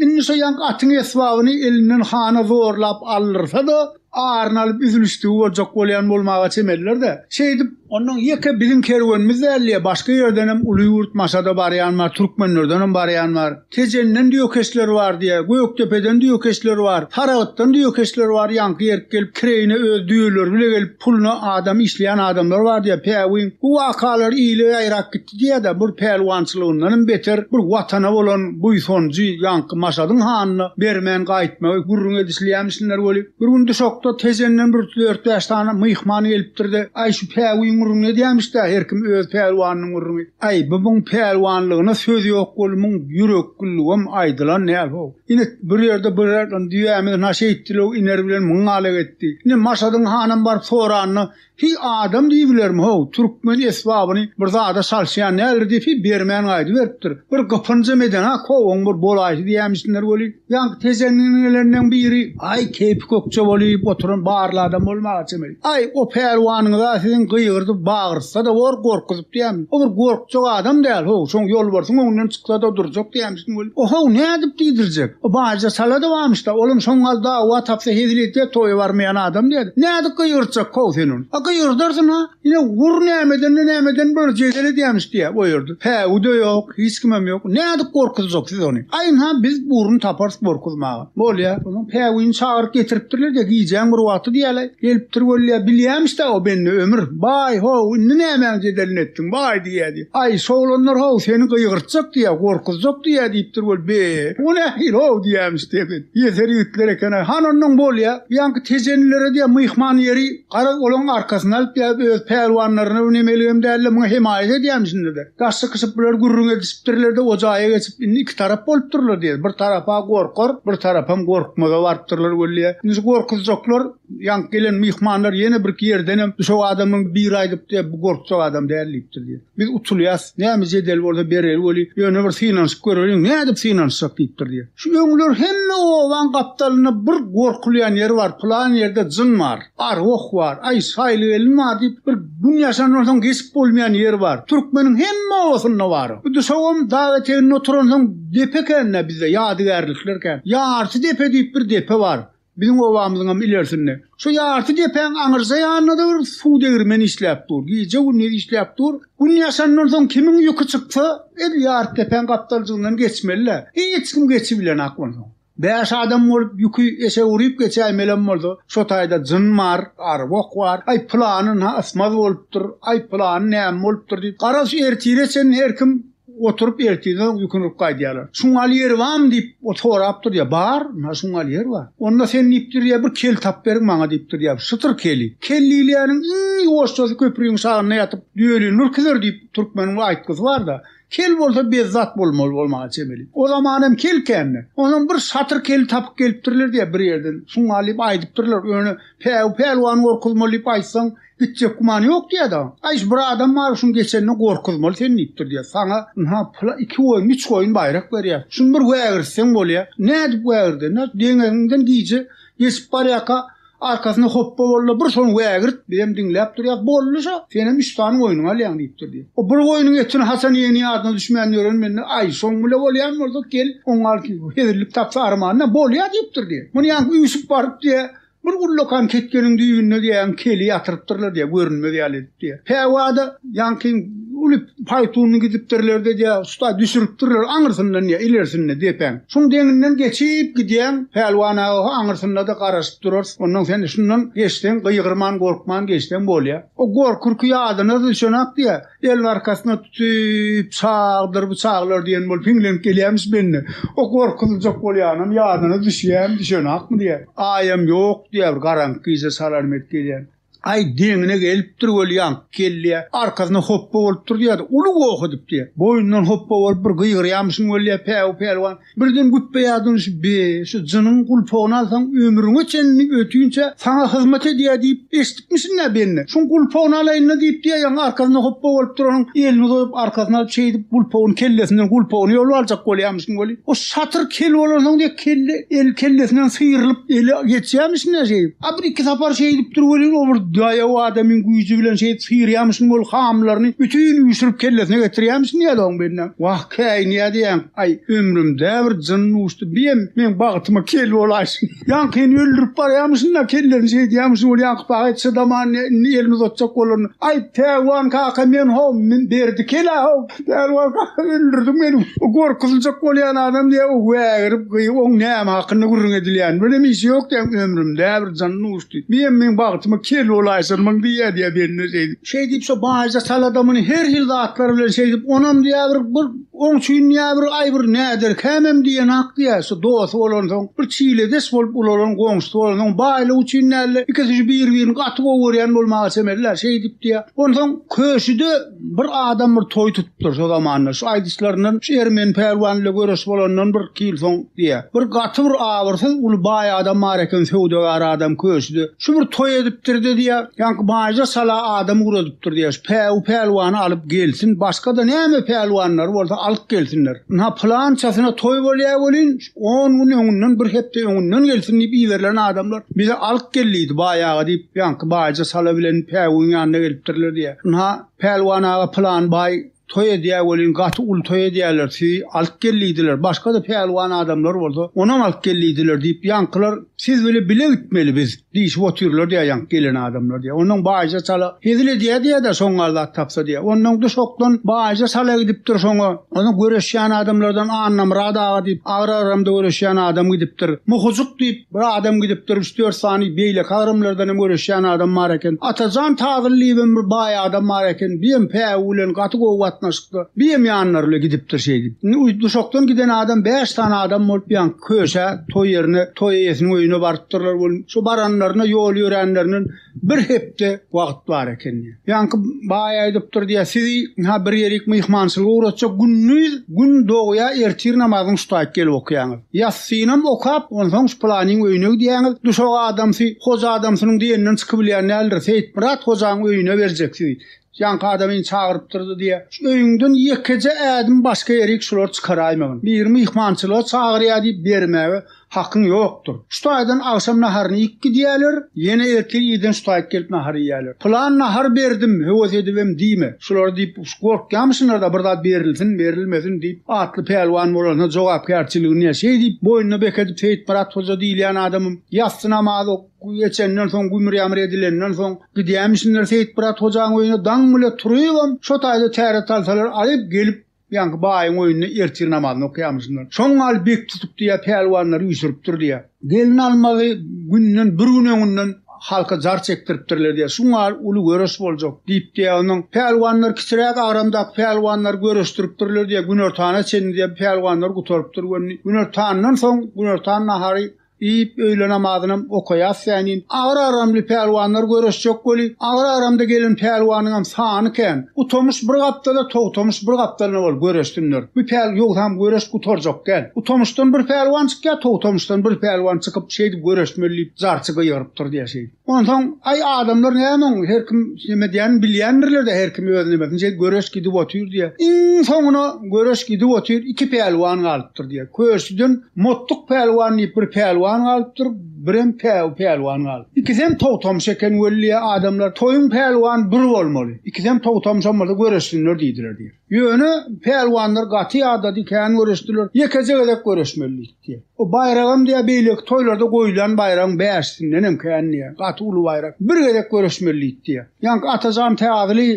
Indi şo ýaňky atyň esbabyny elinden hana zorlap aldyrsa-da, aryny alyp üzülişdigi boljak bolýan bolmaga çemeliler-dä. Şeýdip. Onnoň ýeke biziň kerwenimiz däl-le, başga ýerdenem uly ýurt Maşada barýan bar, türkmenlerdenem barýan bar. Tejenden düýekeşler bar diýýär, Gökdepeden düýekeşler bar, Saragtdan düýekeşler bar, ýaňky ýerik gelip kireýine öz düýeleri bile gelip, puluna adam işleýän adamlar bar diýýär. Päwüň, bu wakalar ile ýaýrap gitdi. Diýe-de, bir pälwançylygyndanam beter bir Watana bolan buýsanjy ýaňky Maşadyň hanyna bermän gaýtmagy gürrüň edişilýämişinler weli, bir gün duşakda Tejenden bir dört-bäş sany myhman gelipdir-de, Aý, şu päwügiň gürrüňini edýämiş-dä, her kim öz pälwanynyň gürrüňi. Aý, bumyň pälwanlygyna söz ýok weli, muň ýürekgülligem aýdylan däl-how. Ine, bir ýerde bir düýämiz naşa etdi-lew, iner bilen myň ala getdi. Ine, Maşadyň hanam baryp soranyna, Hi adam diýibilermi how, türkmen esbabyny bir zada çalyşýan däldir diýip hi bermän gaýdyberipdir. Bir gypynjam eden-a kowaň bir bolaýsy diýämişsinler weli, ýaňky tejenliňelerinden biri, aý keýpi kökje bolýyp oturan barly adam bolmaga çemeli. Aý, o pälwanyňyz-a siziň gygyrdyp bagyrtsa-da bor, gorkuzyp diýämi. O bir gorkjak adam däl how, şoň ýolbarsyň öňünden çyksa-da durjak diýämişsin. O-how, nädip diýdirjek? Baýja çala-da barmyş-da, olam şoň gal dawa tapsa hezil edýär, toýa barmaýan adam diýýär. Nädip gygyrtjak how sen ony? A gygyrdarsyň-a, ine, gur nämeden-de nämeden bir jedel edýämiş diýýär o ýerde. Päwü-de ýok, hiç kimem ýok. Nädip gorkuzjak siz ony? Aýyň-ha, biz burun taparys gorkuzmaga. Bolýa, onuň päwüjini çagyryp getiripdirler-de, gijäň bir wagty diýýäler, gelipdir weli, bilýämiş-dä o bende ömür. Baý, how, indi nämäň jedelini etdiň, baý diýýä, diýip. Aý, şoglanlar, how, seni gygyrtjak diýýä, gorkuzjak diýýä diýipdir weli, be, bu nähili, how, diýýämiş, dehşet. Ýeser ýigitler eken-aý. Han onnoň bolýa, bu ýaňky tejenilere diýýä, myhman ýeri. Garaz, olaryň arkasyny alyp ýa öz pälwanlaryna ünemeligem däl-de, muňa hemaýat edýärmişsinler-de. Daş çykyşyp bular gürrüň edişipdirler-de, o jaýa geçip, indi iki tarap bolupdyrlar diýer. Bir tarap-a gorkar, bir tarapam gorkmaza barypdyrlar weli-ä. Indi şu gorkuzjaklar, ýaňky gelen myhmanlar ýene birki ýerdenem düşek adamyň biri aýdypdy, bu gorkjak adam däl diýipdir diýer. Biz utulýas, näme jedel bolsa bereli weli, ýöne bir synanyşyp göreliň, nädip synanyşjak diýipdir diýen. Şu öňler hemme obaň gapdalynda bir gorkulýan ýer bar, pylan ýerde jyn bar, arwah bar, aý, şaýly gelin bar diýip, bir gün ýaşandan soň geçip bolmaýan ýer bar. Türkmeniň hemme obasynda bar o. Bu duşagam dag eteginde oturansoň depe ekän-dä bizde, ýadygärlikler kän. Ýarty depe diýip bir depe bar. Biziň obamyzyňam ilersinde, şu ýarty depäň aňyrja ýanynda-da bir suw degirmeni işläp dur. Gije-gündiz işläp dur. Gün ýaşandan soň kimiň ýüki çyksa, edil ýarty depäň gapdaljygyndan geçmeli-dä. Hiç kim geçibilenak onsoň. Bäş adam bolup ýüki eşek urup geçäýmelem bolsa, şo taýda jyn bar, arwah bar. Aý, pylany ynha ysmaz bolupdyr, aý, pylany näme bolupdyr diýip, garaz, ertire çenli her kim Oturyp ertirden ýüküniip gaýdýarlar. Şuňal ýeri bamy diýip sorap durýar. Bar, na şuňal ýer bar. Onda sen diýip durýar bir kel tap beriň maňa diýip durýar. Şytyr keli. Kel diýilýäniň iň ýuwaşjasy köpriň şagynda ýatyp düýeli nurkidir diýip türkmeniň bir aýtgysy barda. Kel bolsa bezzat bolmaly bolmaga çemeli. O zaman hem kel kände. Onam bir şatyr keli tapyp gelipdirler diýär bir ýerden. Şuňal diýip aýdypdyrlar. Öne päw pälwan gorkuzmaly diýip aýtsaň Gitjek gümany ýok diýýä-de. Aý, şu bir adam bar, şuň geçenine gorkuzmaly seni diýipdir diýýä. Saňa, ynha, pula iki goýun, üç goýun baýrak berýäs. Şuny bir wägirtseň bolýa. Nädip wägirdenä? Deňegiňden gije geçip barýarka arkasyna hopba bol-da, bir şony wägirt, bizem diňläp durýas. Boldy şo, senem üç sany goýnuňy alýaň diýipdir diýýä. O bir goýnuň etini haçan iýeni ýadyna düşmän ýören mende. Aý, şoň bile bolýan bolsa, gel, oňa hezillik tapsa armanyna bolýa diýipdir diýýä. Muny ýaňky üýşüp baryp diýýä, Bir ullakan ketgeniň düýbünde diýýäň keli ýatyrypdyrlar diýýär, görünmez ýaly edip diýýär. Käwada ýaňky uly paýtunyny gidipdirler-de diýýär, usta düşüripdirler aňyrsyndan diýýär, ilersinde depäň. Şoň deňinden geçip gidýäň, Pälwan aga ho aňyrsynda-da garaşyp durarys. Onnoň sen şundan geçseň, gygyrman, gorkman geçseň bolýar. O gorkurky ýadyna düşenak diýýär. El arkasyna tutup, Çagdyr bu çagalar diýen bolup hiňlenip gelýärmiş mende. O gorkuzyljak bolýanam, ýadyna düşýän, düşenakmy diýýän. Aýam ýok diýýär, garaňky gije salarym edip gelýän. Aý deňine gelipdir weli, ýaňky gelýär. Arkasyna hopba bolup dur diýýär-de, uly goh edip diýýär. Boýundan hopba bolup bir gygyrýamyşyň weli diýýär, Päwü pälwan, Birden güpbeýaz dönüşip, Be, şu jynyň gulpagyny alsaň, ömrüňe çenli ötünçä saňa hyzmat edýär diýip eşidipmişin-dä, Benni. Şuň gulpagyny alaýyn-da diýip diýýän, arkasyna hopba bolup duranyň elini uzadyp, arkasyna alyp, şeýdip, gulpagyny kellesinden, gulpagyny ýolup aljak bolýarmyşyn weli, o şatyr kel bolansoň diýek, kelle, el kellesinden syýrylyp, eli geçýärmişin-dä şeýdip. A bir-iki sapar şeýdip dur welin, o bir daýaw adamyň güýji bilen şeýdip syýrýarmyşyn weli, hamylaryny bütin üýşürip kellesine getirýärmişin diýýärdi oň Bennä. Wah! Käýi nädýäň, aý, ömrümdä bir jyn duşdy, biem meň bagtyma kel bolaýsyn. Ýaňkyny öldürip barýamyşyn-da, kellesini şeýdýämişin, ol ýaňky paýhas çydaman indi elini uzatjak bolandy. Aý, Pälwan kaka, men how, Berdi kel-ä how, Pälwan kaka öldürdiň meni, bu gorkuzyljak bolýan adam diýip, wägirip, gyýyp, oň näme hakynda gürrüň edilýänini bilenim, işi ýok diýýän, ömrümdä bir jyn duşdy, biem meň bagtyma kel bolaýsynmyň diýýä diýýä, Berdi-de şeýdip. şeý diýip şo baýja salada muny her hil zatlar bilen şeý diýip onam diýä bir bir oň üçin diýä bir aý bir näder kämem diýen hak diýä şu dosy bolansoň bir çiledeş bolup ulalan goňşusy bolansoň baýlyk üçin näle ikisi şu bir birini gaty gowy görýän bolmaga çemeliler şeý diýip diýä onsoň köşüde bir adam bir toý tut Dursa zamanynda şu aýdyşlaryndan şu ermeni pälwan ile göreş bolandan bir-iki ýyl soň diýýär. Bir gaty bir abyrsyz uly baý adam bar eken söwdagär adam köşide. Şu bir toý edipdir-de diýýär, ýaňky baýja sala adam ugradipdir diýýär. Şu päwü pälwany alyp gelsin, başga-da näme pälwanlary bolsa alyp gelsinler. Ynha pylançasyna toý bolýar welin, on gün öňünden, bir hepde öňünden gelsin diýip iberilen adamlar bize alyp gel diýdi baý aga diýip, ýaňky baýja sala bilen päwüň ýanyna gelipdirler diýýär. Ynha, Pälwan aga pylan baý toý edýär welin gaty uly toý edýärler sizi alyp gellidiler başgada pälwan adamlar bolsa onam alyp gellidiler diýip ýaňkylar siz bile bile gitmeli biz diýşip otyrlar diýär ýaňky gelen adamlar diýär ondan baýja çala hezil edýär diýärda soňňa zat tapsa diýär ondan duşokdan baýja çala gidipdir soňa ony göreşýän adamlardan annamyrat aga diýip agyr aramda göreşýän adam gidipdir muhyjyk diýip Bir adam gidipdir, üç-dört sany beýleki agramlardan hem göreşýän adam bar eken. Atajan Tazyly diýip hem bir baý adam bar eken. Bu hem päwü bilen gaty gowy gatnaşykda. Bu hem ýanlary bilen gidipdir şeýdip. Indi uý duşakdan giden adam bäş sany adam bolup ýaňky köşä, toý ýerine, toý eýesiniň öýüne barypdyrlar welin, şo baranlarynda ýol ýöränlerinden, Bir hepde wagt bar eken diýýär. Ýaňky baý aýdypdyr diýýär, sizi ha bir ýerik myhmançylyga ugratjak gündiz gün dogýa ertir namazyny şutaýyk gelip okaýaňyz. Ýassynam okap, onsoň şu pylanyň öýüne gidýäňiz, duşak adamsy, hoja adamsynyň diýeninden çykybilýän däldir, Seýitmyrat hojanyň öýüne berjek sizi. Ýaňky adamyny çagyrypdyrdy diýýä. Şu öýüňden ýekeje ädim başga ýerik şulary çykaraýmagyn. Biri myhmançylyga çagyrýa diýip bermäge hakyň ýokdur. Şu taýdan agşam naharyny iýip gidýäler, ýene ertir irden şu taýyk gelip nahar iýýäler. Pylan nahar berdim, höwes edibem diýme. Şulary diýip gorkýamyşynlar-da bir zat berilsin, berilmesin diýip atly pälwan bolanda jogapkärçiligini ýa şeý diýip boýnuna bekedip Seýitmyrat hoja diýilýän adamym ýassy namaz ok. Guý geçenden soň, gümür-ýamyr edilenden soň, gidýämişinler Seýitmyrat hojaň öýüne, daň bile turybam, şo taýda täret alsalar aýyp, gelip, ýaňky baýyň öýünde ertir namazyny okaýamyşynlar. Şoň gal bek tutupdy ýa pälwanlary üýşüripdir diýýär. Gelin almagy günden bir gün öňünden halka jar çekdiripdirler diýýär. Şoň gal uly göreş boljak diýip diýýär. Onuň pälwanlar kiçiräk agramdaky pälwanlary görüşdiripdirler diýýär. Günortana çenli diýýär, pälwanlar gutarypdyr göni. Günortandan soň, günortan nahary Diýip, öýle namazynam okaýas sänin. Agyr agramly pälwanlar göreşjek weli, agyr agramda gelen pälwanyňam sany kän. Utomyş bir gapdala, Togtomyş bir gapdalyna bolup göreşsinler. Bu päl ýogsam göreş gutarjak däl. Utomyşdan bir pälwan çykýar, Togtomyşdan bir pälwan çykyp, şeýdip göreşmeli diýip, jarçy gygyrypdyr diýýär şeýdip. Onsoň, aý, adamlar näme oň, her kim näme edýänin bilýändirler-dä, her kim öz nimesinçe, göreş gidip otyr diýýä. Iň soňuna göreş gidip otyr, iki pälwan galypdyr diýýä. Köşüden Motduk pälwan diýip bir pälwan galypdyr, birem Päwi pälwan galypdyr. Ikisem togtamşa eken weli diýýä, adamlar, Toýuň pälwany bir bolmaly, ikisem togtamşam bolsa göreşsinler diýdiler diýýä. Ýöne pälwanlar gaty ýadady, kän göreşdiler. Ýekeje gezek göreşmelidik diýýär. O baýragam diýýär, beýleki toýlarda goýlan baýragyň bäşisindenem kän diýýär. Gaty uly baýrak. Bir gezek göreşmelidik diýýär. Ýaňky Atajan Täzli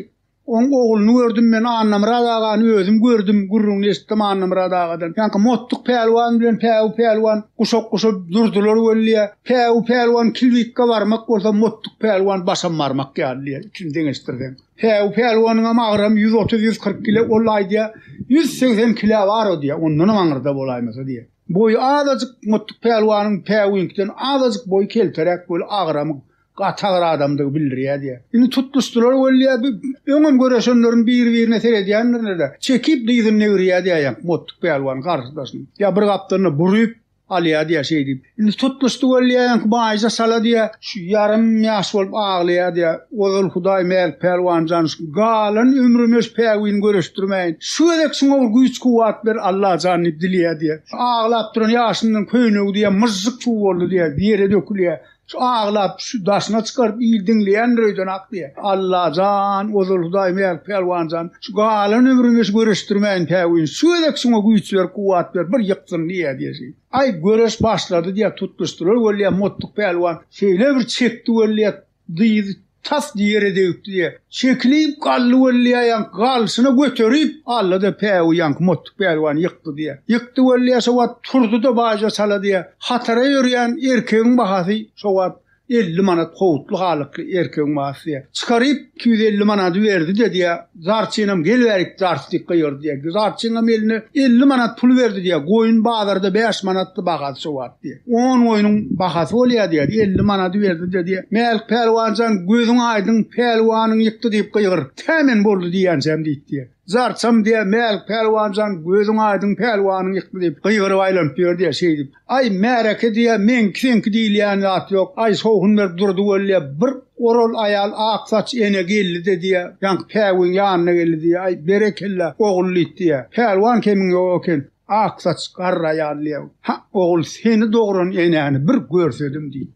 oň ogluny gördüm men, Annamyrat agany özüm gördüm, gürrüňini eşitdim Annamyrat agadan. Ýaňky Mottuk pälwan bilen Päwü pälwan guşak-guşa durdular weli, Päwü pälwan kilbitge barmak bolsa, Mottuk pälwan başam barmak ýaly diýýär, ikisini deňeşdirseň. Säw pälwanyňam agram ýüz otuz, ýüz kyrk kile, ol aýdýa, ýüz segsen kilä bar-a diýýä, ondanam aňyrda bolaýmasa diýýä. Boýy azajyk Mottuk pälwanyň Säwiňkiden azajyk boýy kelteräk bolup, agramyň gaty agyr adamdygy bildirýä diýýä. Indi tutluşdylar weli-ä, bi, öňem göreşenleriň biri-birine seredýänlerine-de, çekip dyzyny degirýä diýýä, Mottuk pälwan garşydaşyny. Ýa bir gapdalynda buryp, Alýa diýýär şeý diýip. Indi tutmuş tüwelleýänki baýja çala diýýär. Şu ýarym ýaş bolup aglaýar diýýär. Ozal Hudaý Mälik pälwan jan şu galan ömrüne şu päwini göreşdirmäýin. Şu gezek şuňa bir güýç-kuwwat ber Alla jan diýip dileýär diýýär. Aglap duran ýaşyndan köýnegi diýýär myžžyk suw boldy diýýär. Ýere dökülýär. Şu aglap, şu daşyna çykaryp il diňleýändir öýden ak diýýä. Allajan, ozal Hudaý Mälik Pälwanjan, şu galan ömrüňi şu göreşdirmäýin päwin, şu gezek şuňa güýç ber, kuwwat ber, bir ýyksyn diýýä diýesi. Aý, göreş başlady diýýä, tutluşdylar weli, Mottuk Pälwan şeýle bir çekdi weli, dyzy tas ýere degipdi-de, çekilip galdy weli ýaýaňky galşyna göterip aldy-da, päwü ýaňky Mottuk pälwany ýykdy-da, ýykdy weli ýa şo wagt turdy-da baýja çalady-da, hatara ýörýän erkegiň bahasy şo wagt elli manat howutly halykly erkegiň bahasy-da, çykaryp iki ýüz elli manady berdi-de diýýär, Zarçynam gel bärik zarçlykka ýör diýýär. Zarçyňam eline elli manat pul berdi diýýär. Goýun bazarda bäş manatdy bahasy şo wagt diýýär. On goýnuň bahasy bolýar diýýär. Elli manady berdi-de diýýär. Mälik pälwan jan gözüň aýdyň pälwanyň ýykdy diýip gygyr. Tä men boldy diýýänçäm diýdi diýýär. Zarçam diýýär, Mälik pälwan jan gözüň aýdyň pälwanyň ýykdy diýip gygyryp aýlanyp ýör diýýär. Şeýdip Aý, märeke diýýä, meňki-seňki diýilýän zat ýok. Aý, sowhun berip durdy welin-ä, bir oral aýal ak saç ene geldi-de diýýä, ýaňky päwügiň ýanyna geldi diýýä, Aý, berekella, ogullyt diýýä. Pälwan kemiň ýok eken. Ak saç garry aýal diýýä, Ha, ogul, seni dogran enäni bir görsedim diý.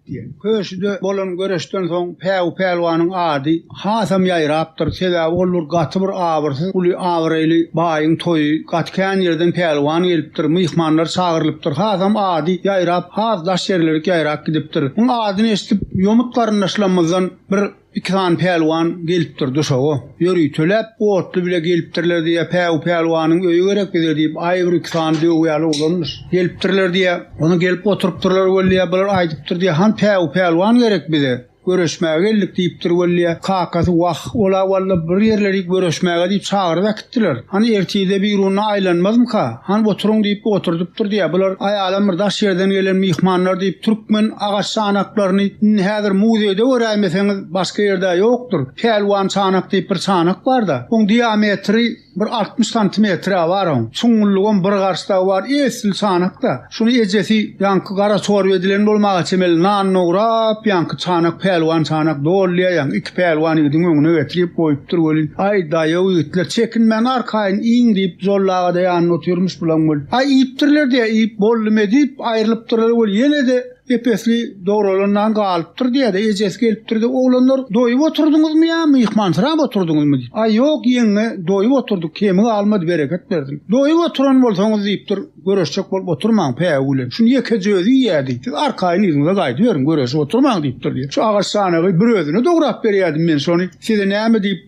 Köşüde bolan göreşden soň Päwü pälwanyň ady hasam ýaýrapdyr, sebäbi ol bir gaty bir abyrsyz uly abraýly baýyň toýy, gaty kän ýerden pälwan gelipdir, myhmanlar çagyrylypdyr, hasam ady ýaýrap, has daş ýerlerik ýaýrap gidipdir. Muň adyny eşidip ýomut garyndaşlarymyzdan bir. Iki sany pälwan gelipdir duşaga. Ýöri, töläp, otly bile gelipdirler diýýär. Päw pälwanyň öýi gerek bize diýip, aý bir iki sany döwýäli oglanmyş. Gelipdirler diýýär. Ony gelip oturypdyrlar weliýa, bular aýdypdyr diýýär, han päw pälwan gerek bize. Göreşmäge geldik diýipdir weliýa. Kakasy, wah, ol-a walla bir ýerleri göreşmäge diýip çagyryp äkitdi. Diýdiler. Hany ertirde Biruna aýlanmazmyka? Hany oturyň diýip oturdypdyr diýýär. Bular aýalam bir daş ýerden gelen myhmanlar diýip türkmen agaç çanaklaryny indi häzir muzeýde göräýmeseňiz başga ýerde ýokdur. Pälwan çanak diýip bir çanak bar-da. Oň diametri bir altmyş santimetr-ä bar oň. Çuňňullygam bir garş dagy bar. Esli çanak-da. Şuny ejesi ýaňky gara çorba edilen bolmaga çemeli nan dograp, ýaňky çanak pälwan çanak dolýar, ýaňky iki pälwan ýigidiň öňüne getirip goýupdyr welin, Aý, daýaw ýigitler, çekinmäň, arkaýyn iýiň diýip, Jolly aga-da ýanynda otyrmyş bulaň welin, Aý, iýipdirler-diýä, iýip boldum-e diýip, aýrylypdyrlar welin, ýene-de ep-esli dogralan nan galypdyr-diýä-de, ejesi gelipdir-de, Oglanlar, doýup oturdyňyzmy ýa myhmansyrap oturdyňyzmy? diýip. Aý, ýok, ýeňňe, doýup oturdyk, kemi galmady, bereket bersin. Doýup oturan bolsaňyz diýipdir. Göreşjek bolup oturmaň, pägi gülen. Şuny ýekeje özi iýerdi. Siz arkaýyn yzyňyza gaýdyberiň, göreşip oturmaň diýipdir diýip. Şu agaç çanagy bir özüne dograp berýärdim men şony. Size näme diýip,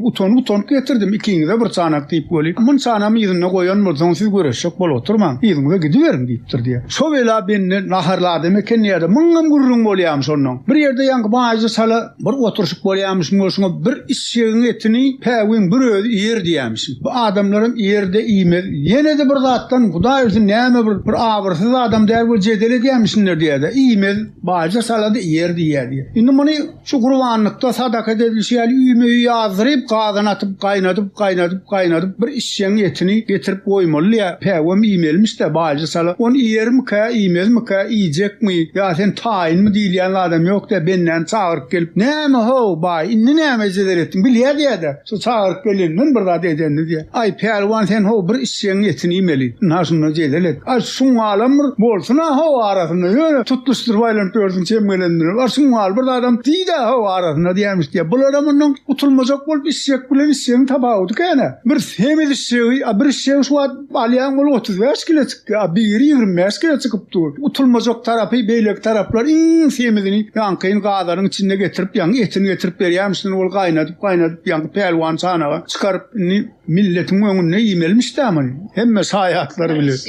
utanyp-utanyp getirdim. Ikiňize bir çanak diýip weli. Muny çanamy yzynda goýan bolsaň, siz göreşjek bolup oturmaň, yzyňyza gidiberiň diýipdir diýýär. Şo bela bende naharly adam ekeni ýa-da, muňam gürrüň bolýamy şondan. Bir ýerde ýaňky baýyja çala. Bir oturyşyk bolýamyşyn we şuňa bir işjegiň etini päwügiň bir özi iýer diýýämişin. Bu adamlaram iýer-de iýmez. Ýene-de bir zatdan, Hudaý bilsin, näme bir, bir abyrsyz adam däl we jedel edýämişindir diýýär-de, iýmez. Baýja salady iýer diýýär diýýär. Indi muny şu gurbanlykda sadaka edilişi ýaly üýme-üý ýazdyryp, gazyna atyp, gaýnadyp, gaýnadyp, gaýnadyp, bir Çiýeň etini getirip goýmalydyýä, päwem iýmelimiş-dä, baýjy sala. Ony iýermikä, iýmezmikä, iýjekmi, ýa sen taýynmy diýilýän adam ýok-dä, bendäni çagyryp gelip, Näme-how, baý, indi näme ejeler etdiň, bilýä diýä-dä, şu çagyryp geleninden bir zat edendi diýä. Aý, pälwan, sen, how, bir işjegiň etini iýmeli. Ynha, şunda jedel et. A şuňňalam bir bolsun-a, how, arasynda, ýöne tutluşdyryp aýlanyp ýörsüň çem geleninden hem. A şuňňaly bir zadam diý-dä, how, arasynda diýermiş diýä. Bularam ondan gutulmajak bolup, işjek bilen işjegiň tapawudy kän-ä. Bir semiz işşegi, a bir işşegi şu wagt alýaň ol otuz bäş kile çykýar, a biri ýigrimi bäş kile çykyp dur. Utulmajak tarapy beýleki taraplar iň semizini ýaňkyny gazanyň içinde getirip ýaňky etini getirip berýärmişsin ol gaýnadyp gaýnadyp ýaňky pälwan çanaga çykaryp indi milletiň öňünde iýmelimiş dä muny hemme şaýatlar bilir.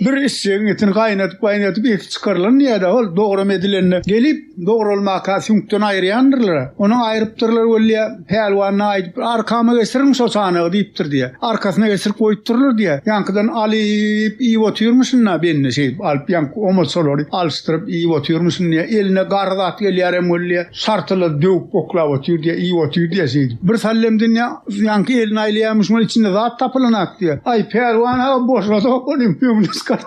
Bir işşegiň etini gaýnadyp gaýnadyp eti çykarylan diýýär dä ol dogram edilende gelip Dogralmaka süňkden aýyrýandyrlar-a. Onuň aýrypdyrlar weli-ä. Pälwanyna aýdyp bir arkama geçiriň şo çanagy diýipdir diýýä. Arkasyna geçirip goýupdyrlar diýýä. Ýaňkydan alyp iýip otyrmyşyn-da bendi şeýdip alyp ýaňky omaçalary alyşdyryp iýip otyrmyşyn diýýä. Eline garry zat gelýärem weli-ä. Şartyla döwüp oklap otyr diýýä, iýip otyr diýýä şeýdip. Bir sallem dynýa, ýaňky elini aýlaýarmyşyn weli içinde zat tapylanak diýýä. Aý, Pälwan aga boşadok ony, öňüne çykar.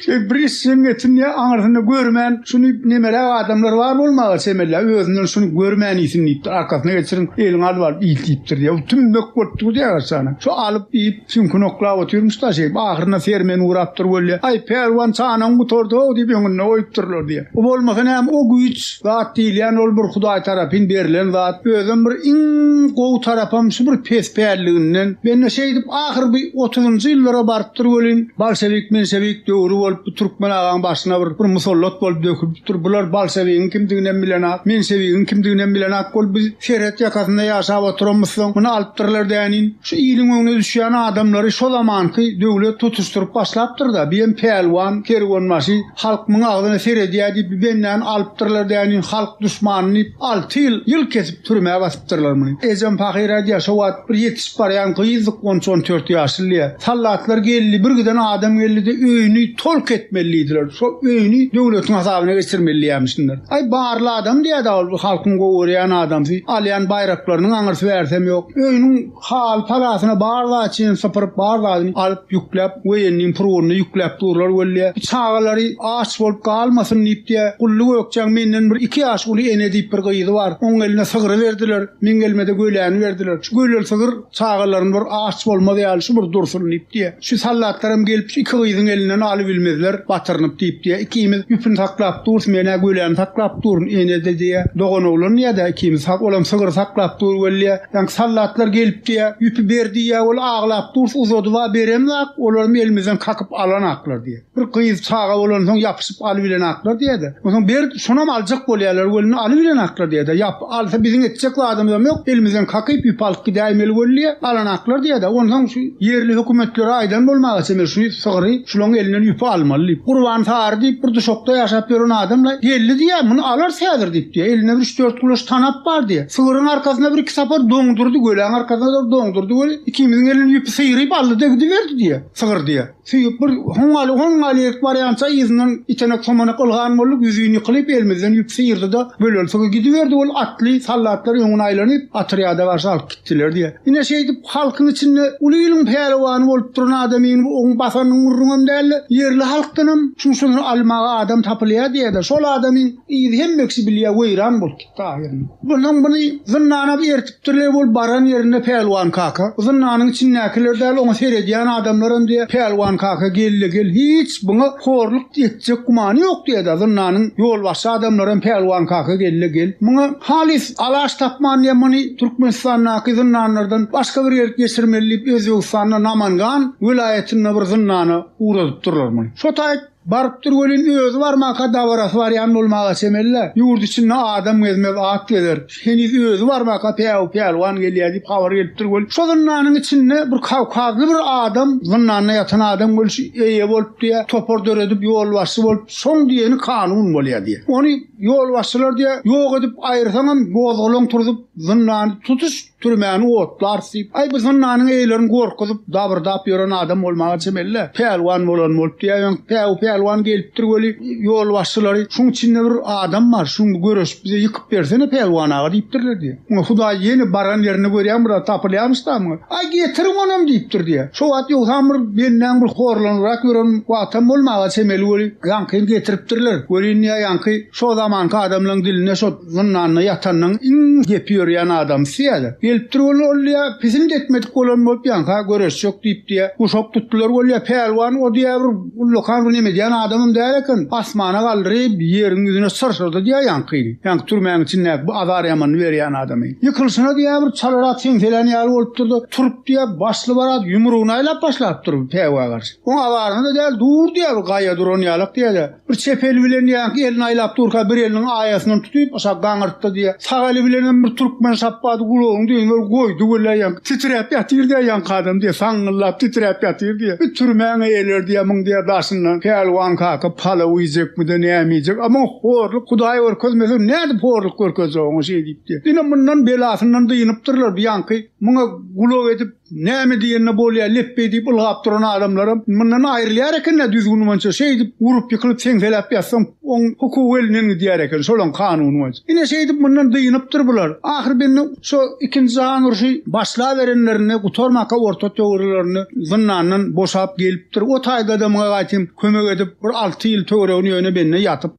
Şeý bir iş hem etindi, aňyrsyny görmän, şuny nemeläp adamlar bar bolmaga çemelýär, özünden şuny görmän iýsin diýipdir, arkasyna geçirip, eliňi alyp alyp iýt diýipdir diýýär. Bu tümmek bolup durdy ýa gaçany. Şo alyp iýip, süňküni oklap otyrmyş-da şeýdip, ahyryna sermen urapdyr weli. Aý, pälwan, çanaň gutardy-how diýip, öňünde goýupdyrlar diýýär. O bolmasa näme, o güýç. Zat diýilýän ol bir Hudaý tarapyn berlen zat. Özem bir iň gowy tarapam şu bir pes pälliginden. Mende şeýdip ahyr bi otuzynjy ýyllara barypdyr welin, bolşewik menşewik döwri bolup bu türkmen agaň başyna bir bir musallat bolup dökülipdir. Bular bolşewigiň kimdiginem bilenak, menşewigiň kimdiginem bilenak bolup biz serhet ýakasynda ýaşap oturamyzsoň muny alypdyrlar dänin. Şu iliň öňüne düşýän adamlary şo zamanky döwlet tutuşdyryp başlapdyrda, biem pälwan, kerwenbaşy, Halk muň agzyna seredýä diýip bi bendäni alypdyrlar däniň halk duşmany diýip alty ýyl ýyl kesip türmä basypdyrlar muny. Ejem pahyr ädýä şo wagt bir ýetişip barýan gyzdyk on üç on dört ýaşly diýä. Sallatlar geldi bir giden adam geldide öýüni tolk etmeli diýdiler şo öýüni döwletiň hasabyna geçirmeli diýämişinler. Aý barly adam diýädä ol bir halkyň gowy görýän adamsy alýan baýraklarynyň aňyrsy bärsem ýok öýüniň Hal-palasyna bar zady çenli sypyryp, bar zadyny alyp, ýükläp, woýenniň purgununa ýükläp durlar weli. Bu çagalary aç bolup galmasyn diýip-de, Gully Gökjäň menden bir iki ýaş uly Ene diýip bir gyzy bar. Onuň eline sygry berdiler. Meň elime-de göläni berdiler. Şu göler sygyr çagalaryny bir aç bolmaz ýaly şu bir dursun diýip-de, şu sallatlaram gelip şu iki gyzyň elinden alybilmezler batyrynyp diýip-de, ikimiz ýüpüni saklap durus, men-ä göläni saklap durun, Ene-de diýýär, doganoglan ýa-da ikimiz, olam sygry saklap dur weli. Ýaňky soldatlar gelip diýýä, ýüpi ber diýýä, ol aglap dur, uzadyb-a beremzak, olaram elimizden kakyp alanaklar diýýä. Bir gyz çaga bolansoň ýapyşyp alybilenaklar diýýä-de, onsoň ber, şonam aljak bolýarlar welin, alybilenaklar diýýä-de, ýap, alsa biziň etjek zadymyzam ýok, elimizden kakyp ýüp alyp gidäýmeli welin diýýä, alanaklar diýýä-de, onsoň şu ýerli hökümetlere aýdan bolmaga çemeli, şu sygyry şularyň elinden ýüpi almaly diýip. Gurban sary diýip, bir duşakda ýaşap ýören adam-la, geldi diýýä, muny alarys häzir diýip diýýä, elinde bir üç-dört gulaç tanap bar diýýä. Sygyryň arkasyna bir-iki sapar doňdurdy, göläň arkasyna bir doňdurdy we ikimiziň elinden ýüpi syýryp aldy-da gidiberdi, diýýär. Sygyr, diýýär. Süýüp bir hoňňaly, hoňňaly erik barýança yzyndan itenek-somanak ylgan bolduk, ýüzin ýykylyp, elimizden ýüp syýrdy-da, böleltigi gidiberdi, ol atly sallatlar öňüne aýlanyp, atrýada garşy alyp gitdiler, diýýär. Ine, şeýdip, halkyň içinde uly iliň pälwany bolup duran adamyny bu oň basanyň gürrüňem däldi, ýerli halkdanam şunçadan almaga adam tapylýar, diýýär-de, şol adamyň yzy hemme kişi bilýär, weýran bolupdy. Taýyryň. Onsoň muny zyndana bertipdirler, ol baran ýerinde Pälwan kaka, zyndanyň içindäkiler däl, oňa seredýän adamlaram diýýär, Pälwan kaka gel-le gel, hiç buňa horluk etjek gümany ýok diýýär-de, zyndanyň ýolbaşçy adamlaram Pälwan kaka gel-le gel, muňa halys alaç tapman diýýär, muny Türkmenistandaky zyndanlardan başga bir ýere geçirmeli diýip, Özbegistanda Namangan welaýatynda bir zyndana ugradypdyrlar muny. Şo taýyp. Barypdyr welin özi barmanka dabarasy barýan bolmaga çemeli-le. Ýurt içinde adam gezmez, at gezer. Heniz özi barmanka Päwü Pälwan gelýär diýip habar gelipdir welin, şo zyndanyň içinde bir kawkazly bir adam, zyndanda ýatan adam welin şu eýe bolup diýýär, topar döredip ýolbaşçy bolup, şoň diýeni kanun bolýar diýýär. Ony ýolbaşçylar diýýär, ýok edip aýyrsaňam gozgalaň turzup, zyndany tutuş Türmäni otlarys diýip, aý, bu zyndanyň eýlerini gorkuzyp, dabyrdap ýören adam bolmaga çemeli-dä. Pälwan bolan bolup diýäýeň, päwü pälwan gelipdir weli, ýolbaşçylary, şuň içinde bir adam bar, şuňdy göreşip bize ýykyp bersene Pälwan aga diýipdirler diýýär. Muňa Hudaý ýene baran ýerinde görýän bir zat tapylýarmyş-da muňa. Aý, getiriň onam diýipdir diýýär. Şo wagt ýogsam bir bendäň bir horlanybrak ýören wagtam bolmaga çemeli weli, ýaňky hem getiripdirler. Welin diýýär, ýaňky şo zamanky adamlaryň dilinde şo, Zyndanda ýatanyň iň gepi ýörýän adamsy ýa-da. Gelipdir bolýa, ol ýa pisint etmedik bolan bolup ýanka göreşjek diýipdi-ä. Guşak tutdular bolýa, pälwan o diýýä bir ullakan bir neme diýýän adamam däl eken. Asmana galdyryp, ýeriň ýüzüne syrsyrdy diýýä ýankyny. Ýanky türmäň içindäki bu azar ýamanyny berýän adamy. Ýykylyşyna diýýä bir çalarak seňselän ýaly bolupdyr-da, turup diýýä başly barat ýumrugyny aýlap başlapdyr päwä garşy. Oň azaryna-da däl, dur diýýä bir gaýa duran ýalak diýýä-de. Bir çep eli bilen ýanky elini aýlap durka, bir eliniň aýasyndan tutup, aşak gaňyrtdy, diýýär. Sag eli bilen hem bir türkmen şapbady gulagyň düýbüne bir goýdy weli, ýanky titräp ýatyr, diýýär, ýanky adam, diýýär, saňňyllap titräp ýatyr, diýýär. Bir türmäň-ä eler, diýýär, muň, diýýär, daşyndan Pälwan kaka palaw iýjekmi-de, näme iýjek, a muňa horluk Hudaý görkezmesin, nädip horluk görkezjek oňa şeýdip, diýýär. Ine, mundan belasyndan dynypdyrlar, bu ýanky muňa gulak edip, Näme diýende bolýar, lepbeý diýip ylgap duran adamlaram mundan aýrylýar eken-dä düzgün boýunça, şeýdip urup ýykylyp seňseläp ýatsaň oň hukugy elinden gidýär eken şolaň kanuny boýunça. Ine şeýdip mundan dynypdyr bular. Ahyr bende şo ikinji jahan urşy başlaberenlerinde gutarmaka orta töwirlerinde zyndandan boşap gelipdir. O taýda-da muňa gaýtym kömek edip bir alty ýyl töweregini ýöne bende ýatyp.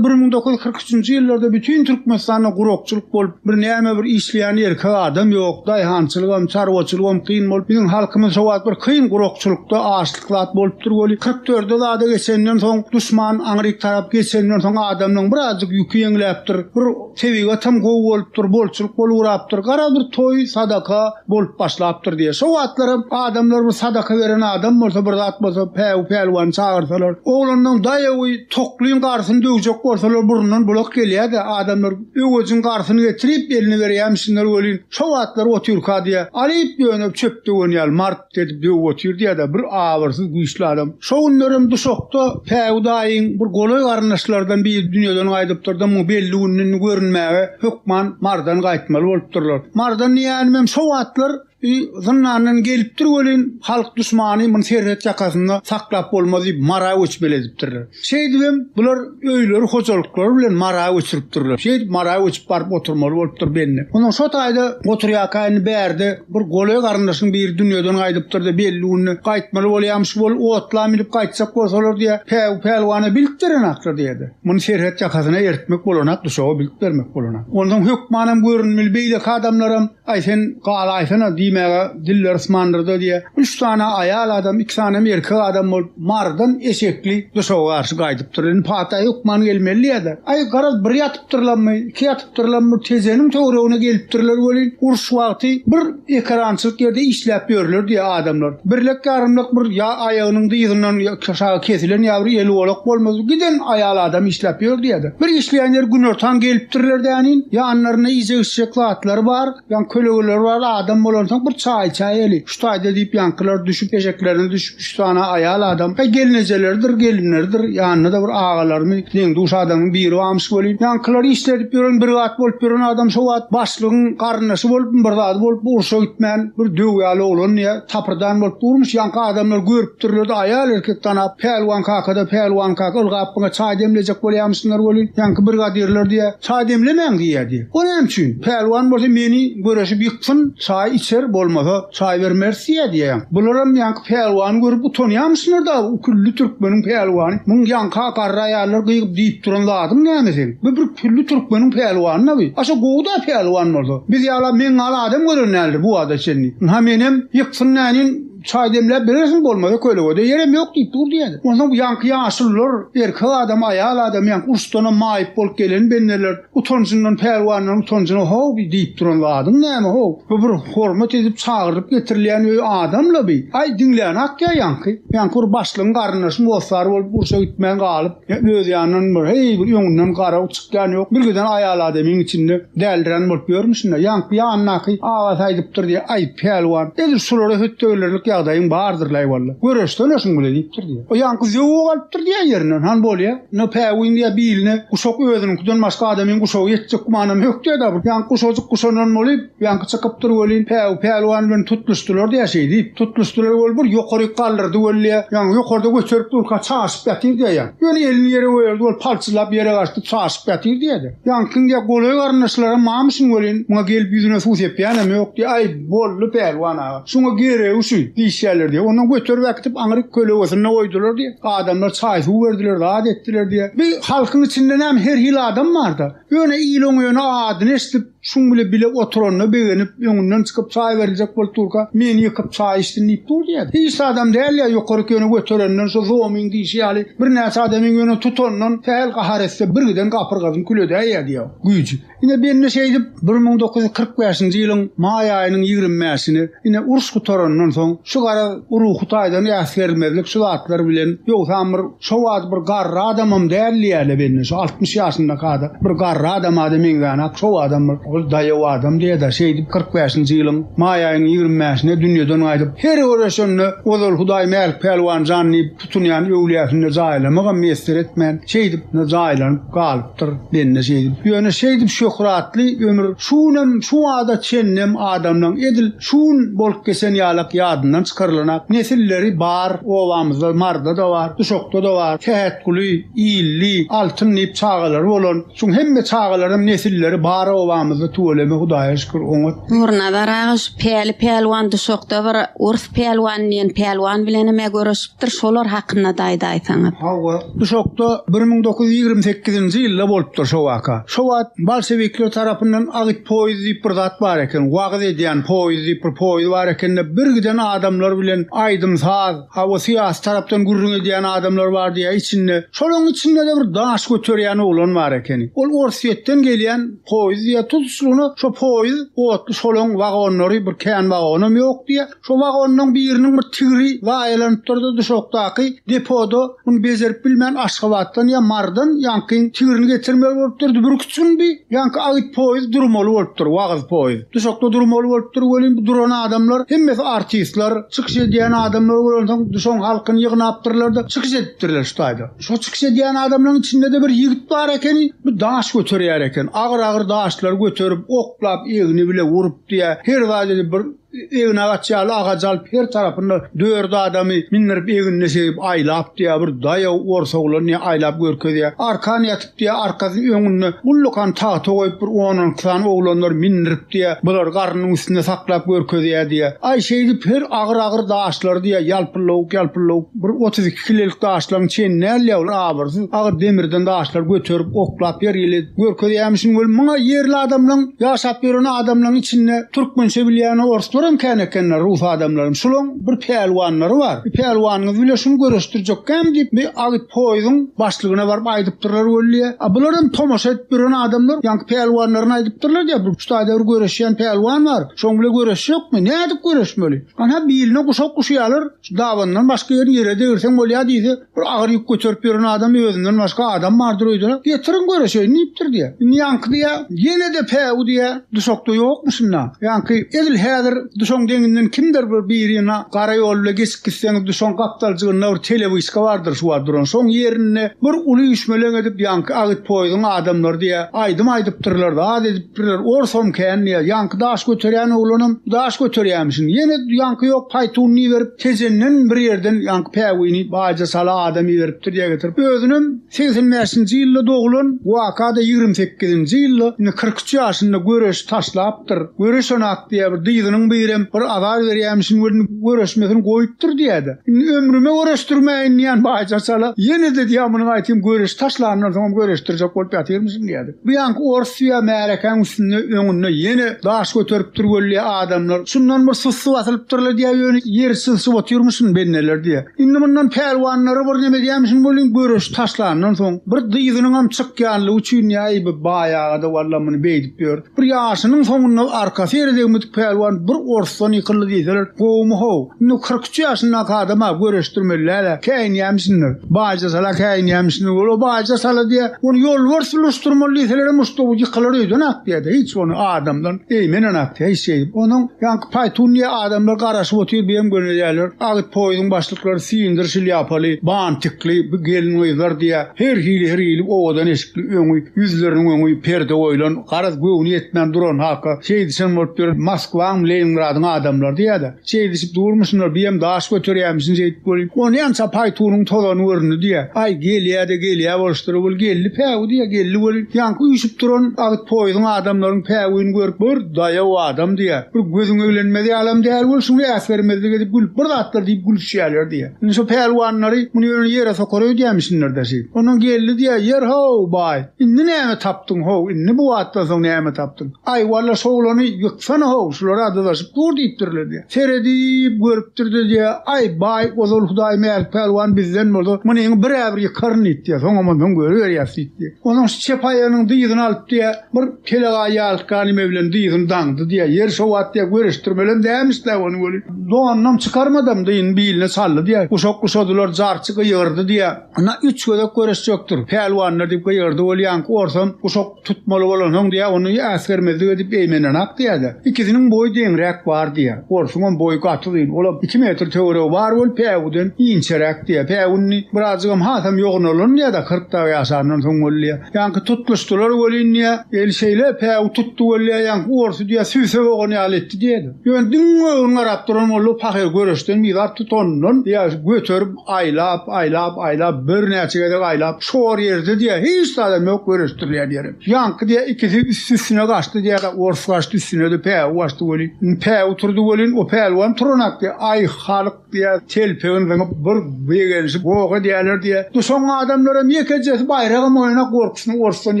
Bir müň dokuz ýüz kyrk üçünji ýyllarda bütin Türkmenistanda gurakçylyk bolup, bir näme bir işleýän erkek adam ýok, daýhançylygam, çarwaçylygam kyn bolup, biziň halkymyz sowat bir kyn gurakçylykda, açlyk zat bolupdyr weli, kyrk dörde zada geçenden soň, duşman aňryk tarap geçenden soň adamlaň birazjyk ýüki ýeňläpdir, bir. Tebigatam gowy bolupdyr, bolçulyk bolugrapdyr. Garaz bir toý, sadaka bolup başlapdyr diýýär. Şo wagtlaram adamlar bir sadaka beren adam bolsa, bir zat bolsa, päwü pälwany çagyrsalar, oglanlaň daýawy toklyň garsyny döwjek bolsalar, burundan bulak gelýär-de, adamlar öwejiň garsyny getirip, eline berýärmişinler welin, şo wagtlar otyrka diýýär, alyp dönüp çöp döwen ýaly, mart. Edip döwüp otyr diýýär-de, bir abyrsyz, güýçli adam. Şo günlerem duşakda Päwü daýyň bir golaý garyndaşlarydan biri dünýeden gaýdypdyr-da, muňa belli gün indi görünmäge hökman Mardan gaýtmaly bolupdyrlar. Mardan diýýänimem şo wagtlar i zyndandan gelipdir welin, halk duşmany muny serhet ýakasynda saklap bolmaz diýip, Mara göçmeli edipdirler. Şeýdibem, bular öýleri, hojalyklary bilen Mara göçüripdirler. Şeýdip, Mara göçüp baryp oturmaly bolupdyr belli. Onuň şo taýda oturýarka indi bärde bir goly garyndaşyň biri dünýeden gaýdypdyr-da, belli günde gaýtmaly bolýarmyş, bol otla münüp gaýtjak bolsalar diýýä, Päwük pälwana bilip berenak-da diýýä-de. Muny serhet ýakasyna eritmek bolanak, duşaga bilip bermek bolanak. Onsoň hökmanam görünmeli beýleki adamlaram. Aý, sen gala aýsana, diýmäge dilleri ysmandyrdy diýýä. Üç sany aýal adam, iki sanam erkek adam bolup, Marydan eşekli Duşawa garşy gaýdypdyr. Indi pata hökman gelmelidiýä-de. Aý, garaz, bir ýatypdyrlarmy, iki ýatypdyrlarmy, tejeniň töweregine gelipdirler welin, uruş wagty bir ekerançylyk ýerde işläp ýörler diýýä adamlar. Birlek-ýarymlak bir ýa aýagynyň dyzyndan, ýa. Çaşagy kesilen ýabry eli golak bolmaz, giden aýal adam işläp ýör diýýärdi. Bir işleýän ýeri günortan gelipdirler däniň, ýanlarynda iýjek-içjek zatlary bar, ýaňy kölegeleri bar, adam bolansoň bir çaý içäýeli, şu taýda diýip ýaňkylar düşüp, eşeklerine düşüp üç sany aýal adam, heý gelnejeleridir, gelinleridir, ýanynda-da bir agalarymy, deň-duş adamyň biri barmyş welin, ýaňkylar işledip ýören bir zat bolup ýören adam şo wagt başlygyň garyndaşy bolupmy bir zady bolupmy urşa gitmän bir döw ýaly oglandy ýa, Tapyrdan bolup durmuş ýaňky adamlar görüpdirlerde aýal erkek tanap Pälwan kakada Pälwan kaka ylgap biňe çaý demlejek bolýamyşsyňlar welin ýaňky birgadirler diýä çaý demlemäň diýä diýä o näme üçin Pälwan bolsa meni göreşip ýyksyn çaý içer bolmasa çaý bermeris diýä diýä ýaňky bularam ýaňky Pälwany görüp utanýamyşsyňlar dagy u külli türkmeniň Pälwany muň ýaňka garry aýallar gygyp diýip duran zadyň näme seň. Bu bir külli türkmeniň pälwanyna bi. Aşa gowy-da pälwan bolsa. Biz ýala meň ýaly adam gören däldir bu wagta çenli. Ynha menem ýyksyn nänin çaý demläp berersiň bolmasa kölegede ýerem ýok diýip dur diýýädi. Onsoň bu ýaňky ýaşullar erkek adam aýal adam ýaňky uruşdanam maýyp bolup gelen bendeler utanjyndan pälwanlaryň utanjyna how bi diýip duran zadyň näme how. Bu bir hormat edip çagyrylyp getirilýän öý adam-la bi. Aý diňläni atýa ýaňky. Ýaňky bir başlygyň garyndaşyň hossary bolup urşa gitmän galyp. Hemme öz ýanyndan bir heý bir öňünden garaw çykýan ýok. Birgiden aýal adamyň içinde däldiran bolup ýörmüşin-dä. Ýaňky ýanyndaky agasy aýdypdyr diýýär, Aý, pälwan, edil şulara hötdegirerlik ýagdaýyň bardyr-laý walla. Göreşsene şuň bile diýipdir diýýär. O ýaňky zöwwe galypdyr diýýär ýerinden. Han bolýa. Ine, päwin diýýär, biline guşak özüniňkiden başga adamyň guşagy ýetjek gümanam hökdä-dä. Bu ýaňky guşajyk guşandan bolup, Ýaňky çykypdyr welin, päwü pälwan bilen tutluşdylar-da ýa şeýdip, tutluşdylar weli bir ýokaryk galdyrdy weli ýa, ýaňy ýokarda göterip durka çaşyp ýatyrdy ýa ýaň, ýöne elini ýere goýardy weli palçylap ýere gaçdy çaşyp ýatyrdy ýa-da. Ýaňkyň ýa golaý garyndaşlaram mamyşyn welin, muňa gelip ýüzüne suw sepýänem ýok diýýär, aý, boldy pälwan aga, şuňa geregi şu, diýişýärler diýýär. Ondan göterip äkitip aňryk kölegesinde goýdular diýýär. Adamlar çaý-suw berdiler, zat etdiler diýýär. Bi halkyň içinde näme her hili adam bar-da. Ýöne il oňa ýöne adyny eşidip, Şuň bile bile oturanyna begenip, öňünden çykyp çaý beriljek bolup durka, meni ýykyp çaý içsin diýip dur diýýär. Hiç adam däl ýa ýokaryk ýöne göterenden şu zomyň diýşi ýaly birnäçe adamyň ýöne tutandan sähel gahar etse birgiden gapyrgasyny küledäýýä diýýär. Güýji. Ine bende şeýdip bir müň dokuz ýüz kyrk bäşinji ýylyň maý aýynyň ýigrimi bäşini Ine, uruş gutarandan soň, şu garaz, bu ruhy taýdan äsgermezlik şu zatlar bilen, ýogsam bir şo wagt bir garry adamam däl diýýärler belli, şu altmyş ýaşyndaky adam, bir garry adama-da meňzänok, şo wagtam bir ol daýaw adam diýýä-dä, şeýdip, kyrk bäşinji ýylyň maý aýynyň ýigrimi bäşinde dünýeden gaýdyp, her göreşende ozal Hudaý Mälik Pälwan jan diýip, Tutunýan öwlüýäsinde jaýlamagam miýesser etmän, şeýdip jaýlanyp galypdyr bende şeýdip. Ýöne şeýdip şöhratly ömür şu günem, şu bada çenlem adamlaň edil şu gün bolup geçen ýalak ýadyndan çykarylanak nesilleri bar, obamyzda Marda-da bar, Duşakda-da bar, Sähetguly, Illi, Altyn diýip çagalary bolan, Şuň hemme çagalaram nesilleri bar obamyzda tüweleme hudaýa şükür oňat. Nurnazar aga şu Päli Pälwan duşakda bir Urs Pälwan diýen Pälwan bilenem ä göreşipdir şolar hakyndada aýdaýsaňyz. Hawa, duşakda bir müň dokuz ýüz ýigrimi sekizinji ýylda bolupdyr şo waka. Şo wagt bolşewikler tarapyndan agyt poýuz diýip bir zat bar eken, wagyz edýän poýuz diýip bir poýuz bar ekende bir giden adamlar bilen aýdym saz, Hawa syýasy tarapdan gürrüň edýän adamlar bar diýýä içinde. Şolaň içindede bir daş göterýän oglan bar ekeni. Ol Orsýetden gelýän poýz diýýä tutuşlygyna şo poýz otly şolaň wagonlary bir kän wagonam ýok diýýä. Şo wagonlaň biriniň bir tigri zaýalanypdyrda duşakdaky depoda. Muny bejerip bilmän Aşgabatdan ýa Marydan ýaňky tigrini getirmeli bolupdyr. Dübrüki çyn bi. Ýaňky agyt poýez durmaly bolupdyr. Wagyz poýez. Duşakda durmaly bolupdyr. Welin bu duran adamlar hemmesi artistler, çykyş edýän adamlar bolansoň duşagyň halkyny ýygnapdyrlar-da çykyş edipdirler şu taýda. Şo çykyş edýän adamlaryň içinde-de bir ýigit bar ekeni, bu daş göterýär eken. Agyr-agyr daşlary göterip, oklap, egni bile urupdy ýa her zady edip bir Eginagaç ýaly agajy alyp her tarapyna dört adamy mindirip egnine segip aýlap diýýär bir daýaw ors oglan diýýär aýlap görkezýär arkan ýatyp diýýär arkasyny öňüne ullakan tagta goýup bir on on iki sany oglanlar mindirip diýýär bular garnynyň üstünde saklap görkezýär diýýär aý şeýdip her agyr agyr daşlary diýýär ýalpyllawuk ýalpyllawuk Bir otuz iki kilelik daşlaryň çen näl-le ol abyrsyz agyr demirden daşlar göterip, oklap ýer ýyly görkezýämişin weli muňa ýerli adamlaň ýaşap ýören adamlaň içinde türkmençe bilýän orslarem kän ekenler rus adamlaram şulaň bir pälwanlary bar bir pälwanyňyz bile şuny göreşdirjekkäm diýip bir agyt poýuzyň başlygyna baryp aýdypdyrlar weli a bularam tomaşa edip ýören adamlar ýaňky pälwanlaryna aýdypdyrlar diýýär bir ştaýda bir göreşýän pälwan bar şoň bile göreşjekmi nädip göreşmeli ana biline guşak guşýalar Şu dabandan başga ýerini ýere degirseň bolýar diýse, bir agyr ýük göterip ýören adam özünden başga adam bardyr öýdüler. Getiriň göreşeýin diýipdir diýýär. Indi ýaňky diýýär, ýene-de päwü diýýär, duşakda ýokmuşyn-da. Ýaňky edil häzir duşagyň deňinden kimdir bir birine gara ýol bilen geçip gitseňiz, duşagyň gapdaljygynda bir telewyşka bardyr şu wagt duran. Şoň ýerinde bir uly üýşmeleň edip ýaňky agyt poýuzyň adamlary diýýär, aýdym aýdypdyrlar-da, az edip Birler, Orsom kän diýýär. Ýaňky daş göterýän oglanam daş göterýärmişin. Ýene ýaňky ýok, paýtunyny iberip, Tejenden bir ýerden ýaňky päwini baýja sala adam iberipdir diýä getirip. Özünem segsen bäşinji ýylda doglan, waka-da ýigrimi sekizinji ýylda, indi kyrk üç ýaşynda göreşi taşlapdyr. Göreşenak diýýär, bir dyzynyň birem bir azar berýärmişin welin, göreşmesini goýupdyr diýýä-de. Indi ömrüme göreşdirmäýin diýýän baýja sala. Ýene-de diýýär, munyň aýtym göreşi taşlanyndan soňam göreşdirjek bolup ýatyrmyşyn diýýär. Bu ýaňky orsiýa märekäň üstünde öňünde ýene daş göterip dur weli adamlar şundan bir sussy basylypdyrlar diýýär ýöne ýeri çylşyp otyrmyşyn benneler diýýär. Indi mundan pälwanlara bir neme edýämişin welin göreşi taşlandan soň bir dyzynyňam çykýanlygy üçin ýaý bu baýagada walla muny beýdip ýör. Bir ýaşynyň soňunda arkasy ýere degmedik pälwan bir orsdan ýykyldy diýseler gowumy-how. Indi kyrk üç ýaşyndaky adama göreşdirmeliler-ä, käýinýämişsindir. Baýja sala käýinýämişsindir. Ol-a baýja sala diýýär. Ony ýolbars ulaşdyrmaly diýselerem muşdagy ýykylar öýden ak diýýär-de, hiç ony adamdan eýmenen ak diýýär, hiç şeýdip. Onuň ýaňky paýtun diýen adamlar garaşyp otyr, bu hem gönezýärler. Agyt poýuzyň başlyklary sindir şlýapaly, bantikli bu gelin-gyzlar diýýär. Her hili, her hili owadan eşikli, öňi, ýüzleriniň öňi perde goýlan, garaz, göwni ýetmän duran haka, şeýdişen bolup ýören Moskwaňmy, Leningradyň adamlary diýýär-de. Şeýdişip durmuşynlar, biýem daş göterýämişin şeýdip bolýar. Ony ýança paýtunyň tozany göründi diýýär. Aý, gelýä-de gelýä boluşdyr, ol geldi päwi diýýär, geldi weli, ýaňky üýşüp duran agyt poýuzyň adamlaryň päwini görüp, bir daýaw adam diýýär, bir gözüň eglenmez ýalam däl weli, şuny äsgermezlik edip gülüp, bir zatlar diýip gülüşýärler diýýär. Indi şo pälwanlary, muny ýöne ýere sokar öýdýämişinler-dä şeýdip. Ondan geldi diýýär, Ýer-how, baý, indi näme tapdyň, how, indi bu wagtdan soň näme tapdyň? Aý, walla, şo oglany Şona-how, şular-a dyzaşyp dur diýipdirler-de. Seredip, görüpdirdi-de, Aý, baý, ozal Hudaý Mälik pälwan bizden bolsa, munyňy bir-ä-bir ýykaryn diýipdi. Soň amansoň görüberýäs diýipdi. Onsoň şu çep aýagynyň dyzyny alypdy, bir telegaý ýalytga neme bilen dyzyny daňdydy. Ýeri şo wagt göreşdirmelem dälmiş-dä ony weli. Donunam çykarmadam dyzyny biline çaldy. Guşak guşadylar, jarçy gyýgyrdy. Ynha, üç gezek göreşjekdir, pälwanlar! diýip gygyrdy. Ol ýaňky orsam, Guşak tutmaly bolansoň, diýýär, ony äsgermezlik edip eýmenenok diýýär-de. Ikisiniň boýy deňräk bar diýýär. Orsuňam boýy gaty uzyn, olam iki metr töweregi bar bolup, päwüden inçeräk diýýär. Päwü indi birazjygam hasam ýognalan diýýär-de, kyrk dag ýaşandan soň boldy diýýär. Ýaňky tutluşdylar welin, diýýär, el şeýle päwü tutdy weli, diýýär, ýaňky orsy, diýýär, sübse bogan ýaly etdi diýýär-de. Ýöne diňe öňüne garap duran boldy, pahyr göreşden bizar tutanyndan, diýýär, göterip, Aýlap, aýlap, aýlap, birnäçe gezek aýlap, çor ýerde diýýär, hiç zada mök görüşdirilýän ýerem. Ýaňky diýýär, ikisi üsti-üstüne gaçdy diýýär, ors gaçdy üstüne-de, päwi gaçdy welin. Indi päwi turdy welin, o pälwan turanok diýýär. Aý, halk diýýär, telpegini zyňyp, bir begenişip, goh edýärler diýýär. Duşan adamlaram ýekejesi baýragam oýanak gorkusyna orsdan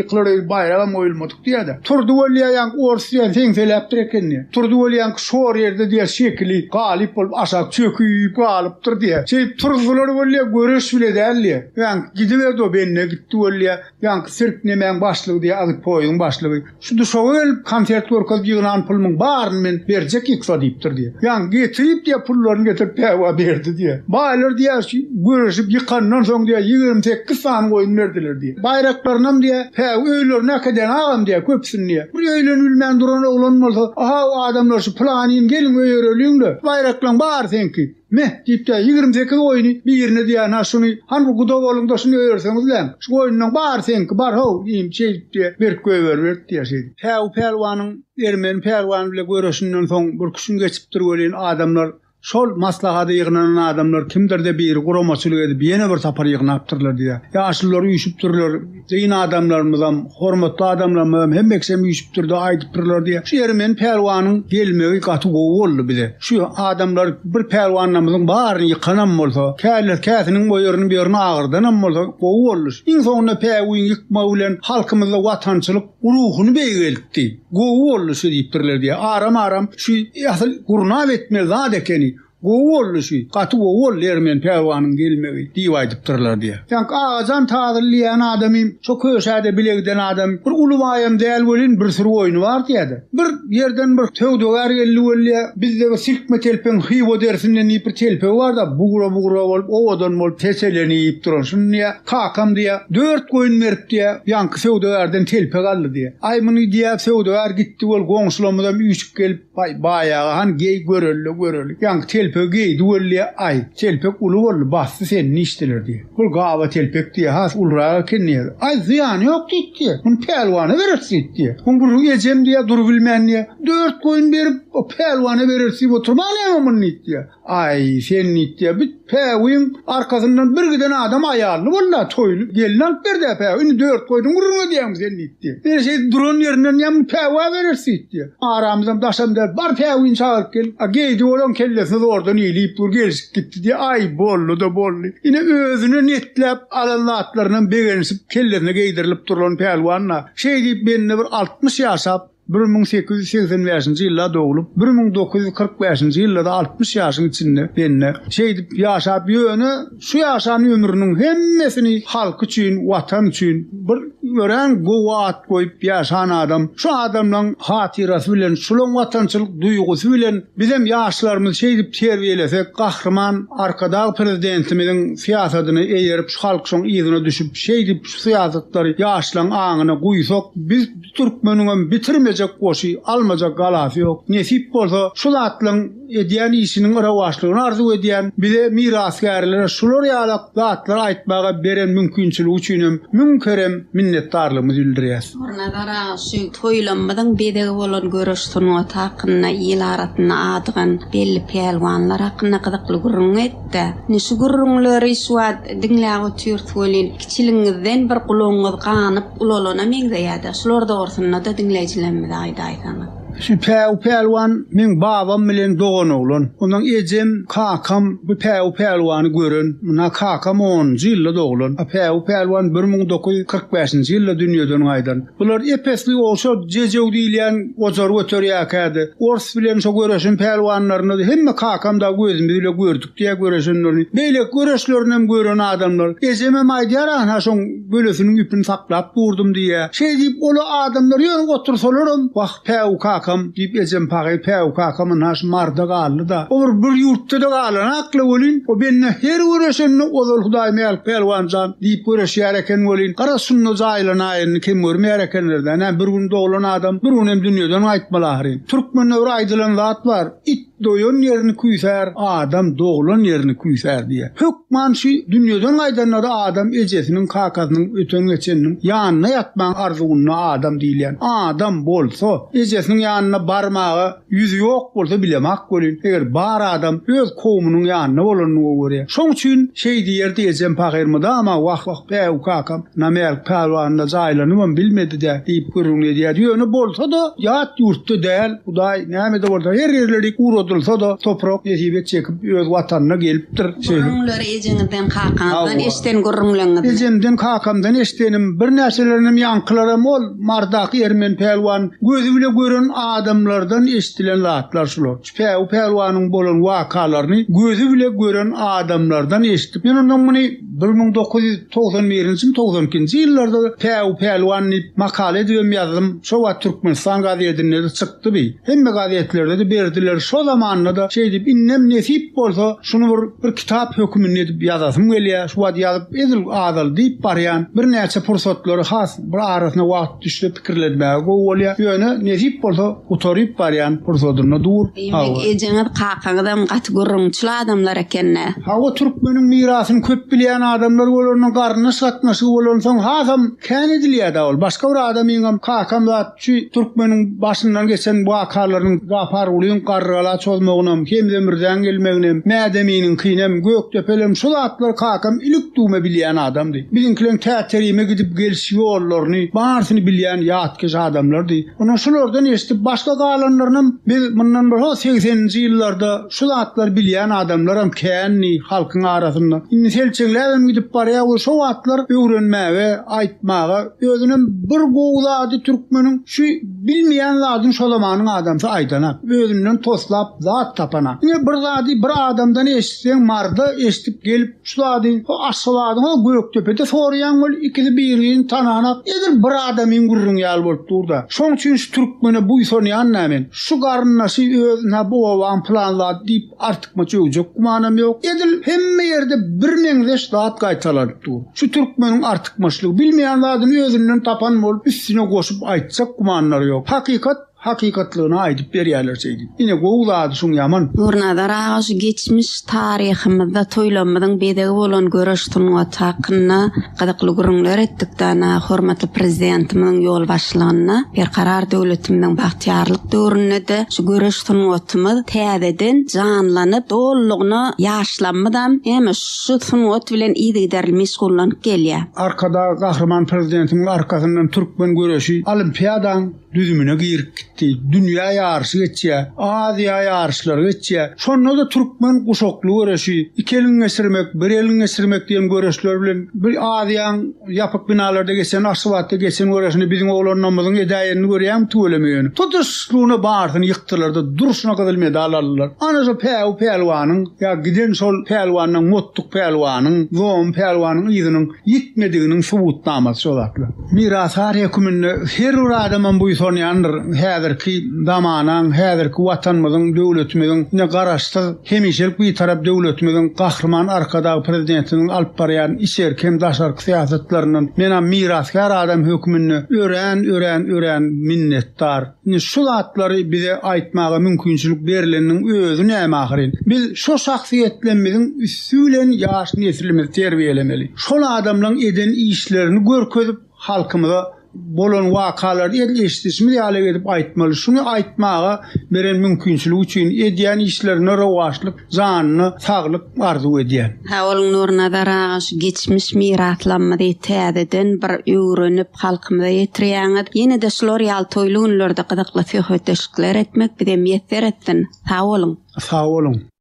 ýykylar öýdüp, baýragam oýulmadyk. Diýýärdi. Turdy welýaýaňky ors diýýän seňseläpdir ekeni. Turdy welýaňky şor ýerde diýýär şekili galyp bolup aşak çöküp galypdyr diýýär. Şeýdip turzular welýär göreş bile däl diýýär. Ýaňky gidiberdi o bende gitdi welýär. Ýaňky sirk nemäň başlygy diýýär agyz poýuň başlygy. Şu duşaga gelip konsert görkez ýygnan pulmyň baryny men berjek ýyksa diýipdir diýýär. Ýaňky getirip diýýär pullaryny getirip päwa berdi diýýär. Baýlar diýýär şu göreşip ýykandan soň diýýär ýigrimi sekiz sany goýun berdiler diýýär. Baýraklarynam diýýä, Hä-w, öýlerine äkeden agam diýýä, köpüsini diýýä. Bir öýlenip bilmän duran oglan bolsa, Aha-w, adamlar şu pylanyny, geliň öýereliň-le, baýraklaň bary seňki. Meh! diýip diýýä, Ýigrimi sekiz goýny birine diýýä, Hä, şuny, hany bu guda boluň-da, şuny öýerseňizläň. Şu goýnunyň bary seňki, bar, ho-w, iýin, şeýdip diýýä, berk goýberibert diýýä, şeýdip. Hä-w, pälwanyň ermeni pälwany bilen göreşinden soň bir küşüm geçipdir welin, adamlar Şol maslahada ýygnanan adamlar kimdir-de biri guramaçylyk edip ýene bir sapar ýygnapdyrlar diýýär. Ýaşulular üýşüpdirler, dyn adamlarymyzam, hormatly adamlarymyzam hemmeksem üýşüpdir-de aýdypdyrlar diýýär. Şu ýeri men Pälwanyň gelmegi gaty gowy boldy bize. Şu adamlar bir pälwanlarymyzyň baryny ýykanam bolsa, käler käsiniň o ýerini bu ýerini agyrdanam bolsa gowy boldy. Iň soňunda päwüň ýykmagy bilen halkymyzda watançylyk, Ruhuny beýgeltdi. Gowy boldy şu diýipdirler diýýär. Aram-aram şu asyl gurnap etmeli zat ekeni. Gowy boldy şu. Gaty gowy boldy Ermen pälwanyň gelmegi diýip aýdypdyrlar diýýär. Ýaňky Agajan Tazyly diýýän adam hem şo köşäde bile giden adam. Bir uly baýam däl welin, bir süri goýny bar diýýär-de. Bir ýerden bir söwdagär geldi welin, bizde bir silkme telpegiň Hywa derisinden diýip bir telpegi bar-da, bugra-bugra bolup, owadan bolup, teselenip duran. Şuny diýýär, Kakam diýýä, dört goýun berip diýýä, ýaňky söwdagärden telpek aldy diýýä. Aý, muny diýýä, söwdagär gitdi bol, goňşularymyzam üýşüp gelip, Aý, baýaga han, geý, göreli-le, göreli. Ýaňky telpegi geýdi bol diýýä. Aý, telpek uly boldy, basdy seni niçdeler diýýä. Bol gaba telpek diýýä, has ulurak eken diýýä. Aý, zyýany ýok diýdi diýýä. Muny pälwana bereris diýdi diýýä. Muň gürrüňi ejem diýýä, durubilmän diýýä, Dört goýun berip, o pälwana bereris diýip oturmaň näme muny diýdi diýýä. Aý, sen nitýä bit, päwiň arkasyndan bir giden adam aýally bol-la, toýly gelin alyp ber-dä päwi, indi dört goýnuň gürrüňi edýäňmi sen nitýä. Ine, şeýdip duran ýerinden ýa muny päwi aberer sitýä. Aramyzam daşam däl, bar päwini çagyryp gel. A Geýdi olaň kellesine zordan iýlip dur, gelşip gitdi diýýä. Aý, boldy-da boldy. Ine, özüne netläp alan zatlarynam begenişip kellesine geýdirilip durlan pälwan-la. Şeýdip, bende bir altmyş ýaşap, Bir müň sekiz ýüz segsen bäşinji ýylda doglup, bir müň dokuz ýüz kyrk bäşinji ýylda-da altmyş ýaşyň içinde bende şeýdip ýaşap, ýöne şu ýaşan ömrüniň hemmesini halky üçin, Watan üçin bir örän gowy at goýup ýaşan adam. Şu adamlaň hatyrasy bilen, şulaň watançylyk duýgusy bilen bizem ýaşlarymyzy şeýdip terbiýelesek, Gahryman Arkadag Prezidentimiziň syýasadyna eýerip, şu halk şoň yzyna düşüp, şeýdip şu syýasatlary ýaşlaň aňyna guýsak, biz Türkmeniňem bitirmejek goşy, almajak galasy ýok. Nesip bolsa, şu zatlaryň edýän işiniň rowaçlygyny arzuw edýän. Bize mirasgärlere şular ýaly zatlary aýtmaga beren mümkinçiligi üçinem müň kerem minnetdarlygymyzy bildirýäs. Nurnazar aga şu toýlamymyzyň bezegi bolan göreş sungaty hakynda il arasynda adygan belli pälwanlar hakynda gyzykly gürrüň et-de. Indi şu gürrüňleri şu wagt diňläp otyrys welin, Kiçiligiňizden bir gulagyňyz ganyp ulalana meňzeýäda şular dogrusynda-da diňleýjilerimize aýdaýsaňyz. Şu Päwü Pälwan meň babam bilen dogan oglan. Ondan ejem, kakam bu Päwü Pälwany gören. Muna kakam onunjy ýylda doglan. A Päwü Pälwan bir müň dokuz ýüz kyrk bäşinji ýylda dünýeden gaýdan. Bular ep-esli ogşa Jejew diýilýän gojar göterýärkädi. Ors bilen şo göreşen pälwanlaryny hemme kakam dagy gözümiz bile gördük. Diýe göreşenlerini, beýleki göreşlerini hem gören adamlar, ejemem aýdýar anha şoň gölesiniň ipini saklap durdum diýýä. Şeý diýip ola adamlar ýöne otursalaram, wah päwü kakam diýip ejem pagy päwü kakam anha şu marda galdy-da. O bir bir ýurtda-da galanakla welin, o bende her göreşende ozal Hudaýmälik pälwan jan diýip göreşýär eken welin, garaz şunda jaýlanaý indi kem görmeýär ekenler-dä. Nä bir gün doglan adam bir gün hem dünýeden gaýtmaly ahyryn. Türkmende bir aýdylan zat bar, It Doýan ýerini küýsär, adam doglan ýerini küýsär diýýär. Hökman şu dünýeden gaýdanlary adam ejesiniň, kakasynyň, öten-geçeniniň ýanynda ýatmagyň arzuwynda adam diýilýän. Adam bolsa, ejesiniň ýanyna barmaga ýüzi ýok bolsa bilemok welin, eger bar adam öz kowumynyň ýanynda bolanyny gowy görýär. Şoň üçin şeý diýerdi ejem pahyr mydama wah-wah, bäw, kakam Namälik pälwanda jaýlanybam bilmedi-dä diýip gürrüňini edýärdi. Ýöne bolsa-da, ýat ýurtda däl. Hudaý näme-de bolsa, her ýerleri guradylsa-da, toprak nesip et çekip, öz Watanyna gelipdir. Şeýle. Gürrüňleri ejeňizden, kakaňyzdan eşden gürrüňleriňizmi? Ejemden, kakamdan eşdenim, birnäçelerinem ýaňkylaram ol Mardak Ermen pälwan gözi bile gören adamlardan eşdilen zatlar şular. Şu Päwü pälwanyň bolan wakalaryny gözi bile gören adamlardan eşdip, men ondan muny. Bir müň dokuz ýüz togsan birinjimi, togsan ikinji ýyllarda Päw, Pälwan diýip makala edibem ýazdym. Şo wagt Türkmenistan gazetinde-de çykdy bi. Hemme gazetlerde-de berdiler. Şo zamanda-da şeýdip, indem nesip bolsa, şuny bir, bir kitap höküminde edip ýazasym gelýär. Şu wagt ýazyp edil azaldyp barýan. Birnäçe pursatlary has. Bir arasyna wagt düşse pikirlenmäge gowy bolýar. Ýöne nesip bolsa gutaryp barýan pursadynda dur. Diýmek ejeňiz kakaňyzam gaty gürrüňçil adamlar ekende. Hawa türkmeniň mirasyny köp bilýän adamlar bolanda garyndaş gatnaşygy bolansoň hasam kän edilýärda ol. Başga bir adamyňam kakam zat. Şu türkmeniň başyndan geçen wakalarynyň Japargulyň Garrygala çozmagynam, Hemze Mürzäň gelmeginem, Mädeminiňkinem, Gökdepelerem şu zatlary kakam ilik-düwme bilýän adamdy. Biziňkileň Täterime gidip geliş ýollaryny, barysyny bilýän ýatkeş adamlardy. Ony şulardan eşidip başga galanlarynam biz mundan bir ho segseninji ýyllarda şu zatlary bilýän adamlaram kändi halkyň arasynda. Indi selçeňläbem gidip barýar we şo wagtlar öwrenmäge, aýtmaga, Özünem bir gowy zady türkmeniň şu bilmeýän zadyny şo zamanyň adamsy aýdanak. Özünden toslap zat tapanak. Ine bir zady bir adamdan eşitseň marda eşidip gelip şu zady o Aşgabadyň o Gökdepede soraýaň ol ikisi bir-birini tananak. Edil bir adamyň gürrüňi ýaly bolup dur-da. Şoň üçin şu türkmene buýsanýan-da men. Şu garyndaşy özüne bu obaň pylan zady diýip Artykmaç öwjek gümanam ýok. Edil hemme ýerde birmeňzeş zat gaýtalanyp dur. Şu türkmeniň artykmaçlygy, bilmeýän zadyny özünden tapan bolup, üstüne goşup aýtjak gümanlary ýok. Hakykat hakykatlygyna aýdyp berýärler şeýdip. Ine, gowy zady şoň ýaman. Durnazar aga şu geçmiş taryhymyzda toýlarymyzyň bezegi bolan göreş sungaty hakynda Gyzykly gürrüňler etdik dana hormatly Prezidentimiziň ýolbaşçylygynda Berkarar döwletimiziň bagtyýarlyk döwründe-de şu göreş sungatymyz täzeden janlanyp, dolulygyna ýaşlarymyzam hem şu sungat bilen yzygiderli meşgullanyp gelýär. Arkadag Gahryman Prezidentimiziň arkasyndan türkmen göreşi Olimpiadaň düzümine girip gitdi. Dünýä ýaryşy geçýär. Aziýa ýaryşlary geçýär. Şonda-da türkmen guşakly göreşi, iki elin geçirmek, bir elin geçirmek diýen göreşler bilen bir Aziýaň ýapyk binalarda geçen, Aşgabatda geçen göreşini biziň oglanlarymyzyň edäýenini görýäňmi tüweleme ýöne. Tutuşlygyna barysyny ýykdylar-da, durşuna gyzyl medal aldylar. Ana şo Päwü pälwanyň ýa giden şol pälwanlaň, Mottuk pälwanyň, Zom pälwanyň yzynyň ýitmediginiň subutnamasy şo zatlar. Mirasdar höküminde her bir adamam buýsanýandyr, häzirki zamanaň, häzirki Watanymyzyň, döwletimiziň, ine, Garaşsyz, hemişelik Bitarap döwletimiziň Gahryman Arkadagly Prezidentimiziň alyp barýan içerki hem daşarky syýasatlaryndan menam mirasgär adam höküminde örän, örän, örän minnetdar. Indi şu zatlary bize aýtmaga mümkinçilik berleniniň özi näme ahyryn? Biz şo şahsyýetlemmiziň üsti bilen ýaş neslimizi terbiýelemeli. Şol adamlaň eden işlerini görkezip, halkymyza bolan wakalary edil eşidişimiz ýaly edip aýtmaly. Şuny aýtmaga beren mümkinçiligi üçin, edýän işlerine rowaçlyk Janyna saglyk arzuw edýän. Sagboluň Nurnazar aga şu geçmiş miraslamyzy täzeden bir öwrenip halkymyza ýetirýäňiz. Ýenede şular ýaly toýly günlerde gyzykly söhbetdeşlikler etmek bize miýesser etsin. Sag boluň. Sag boluň.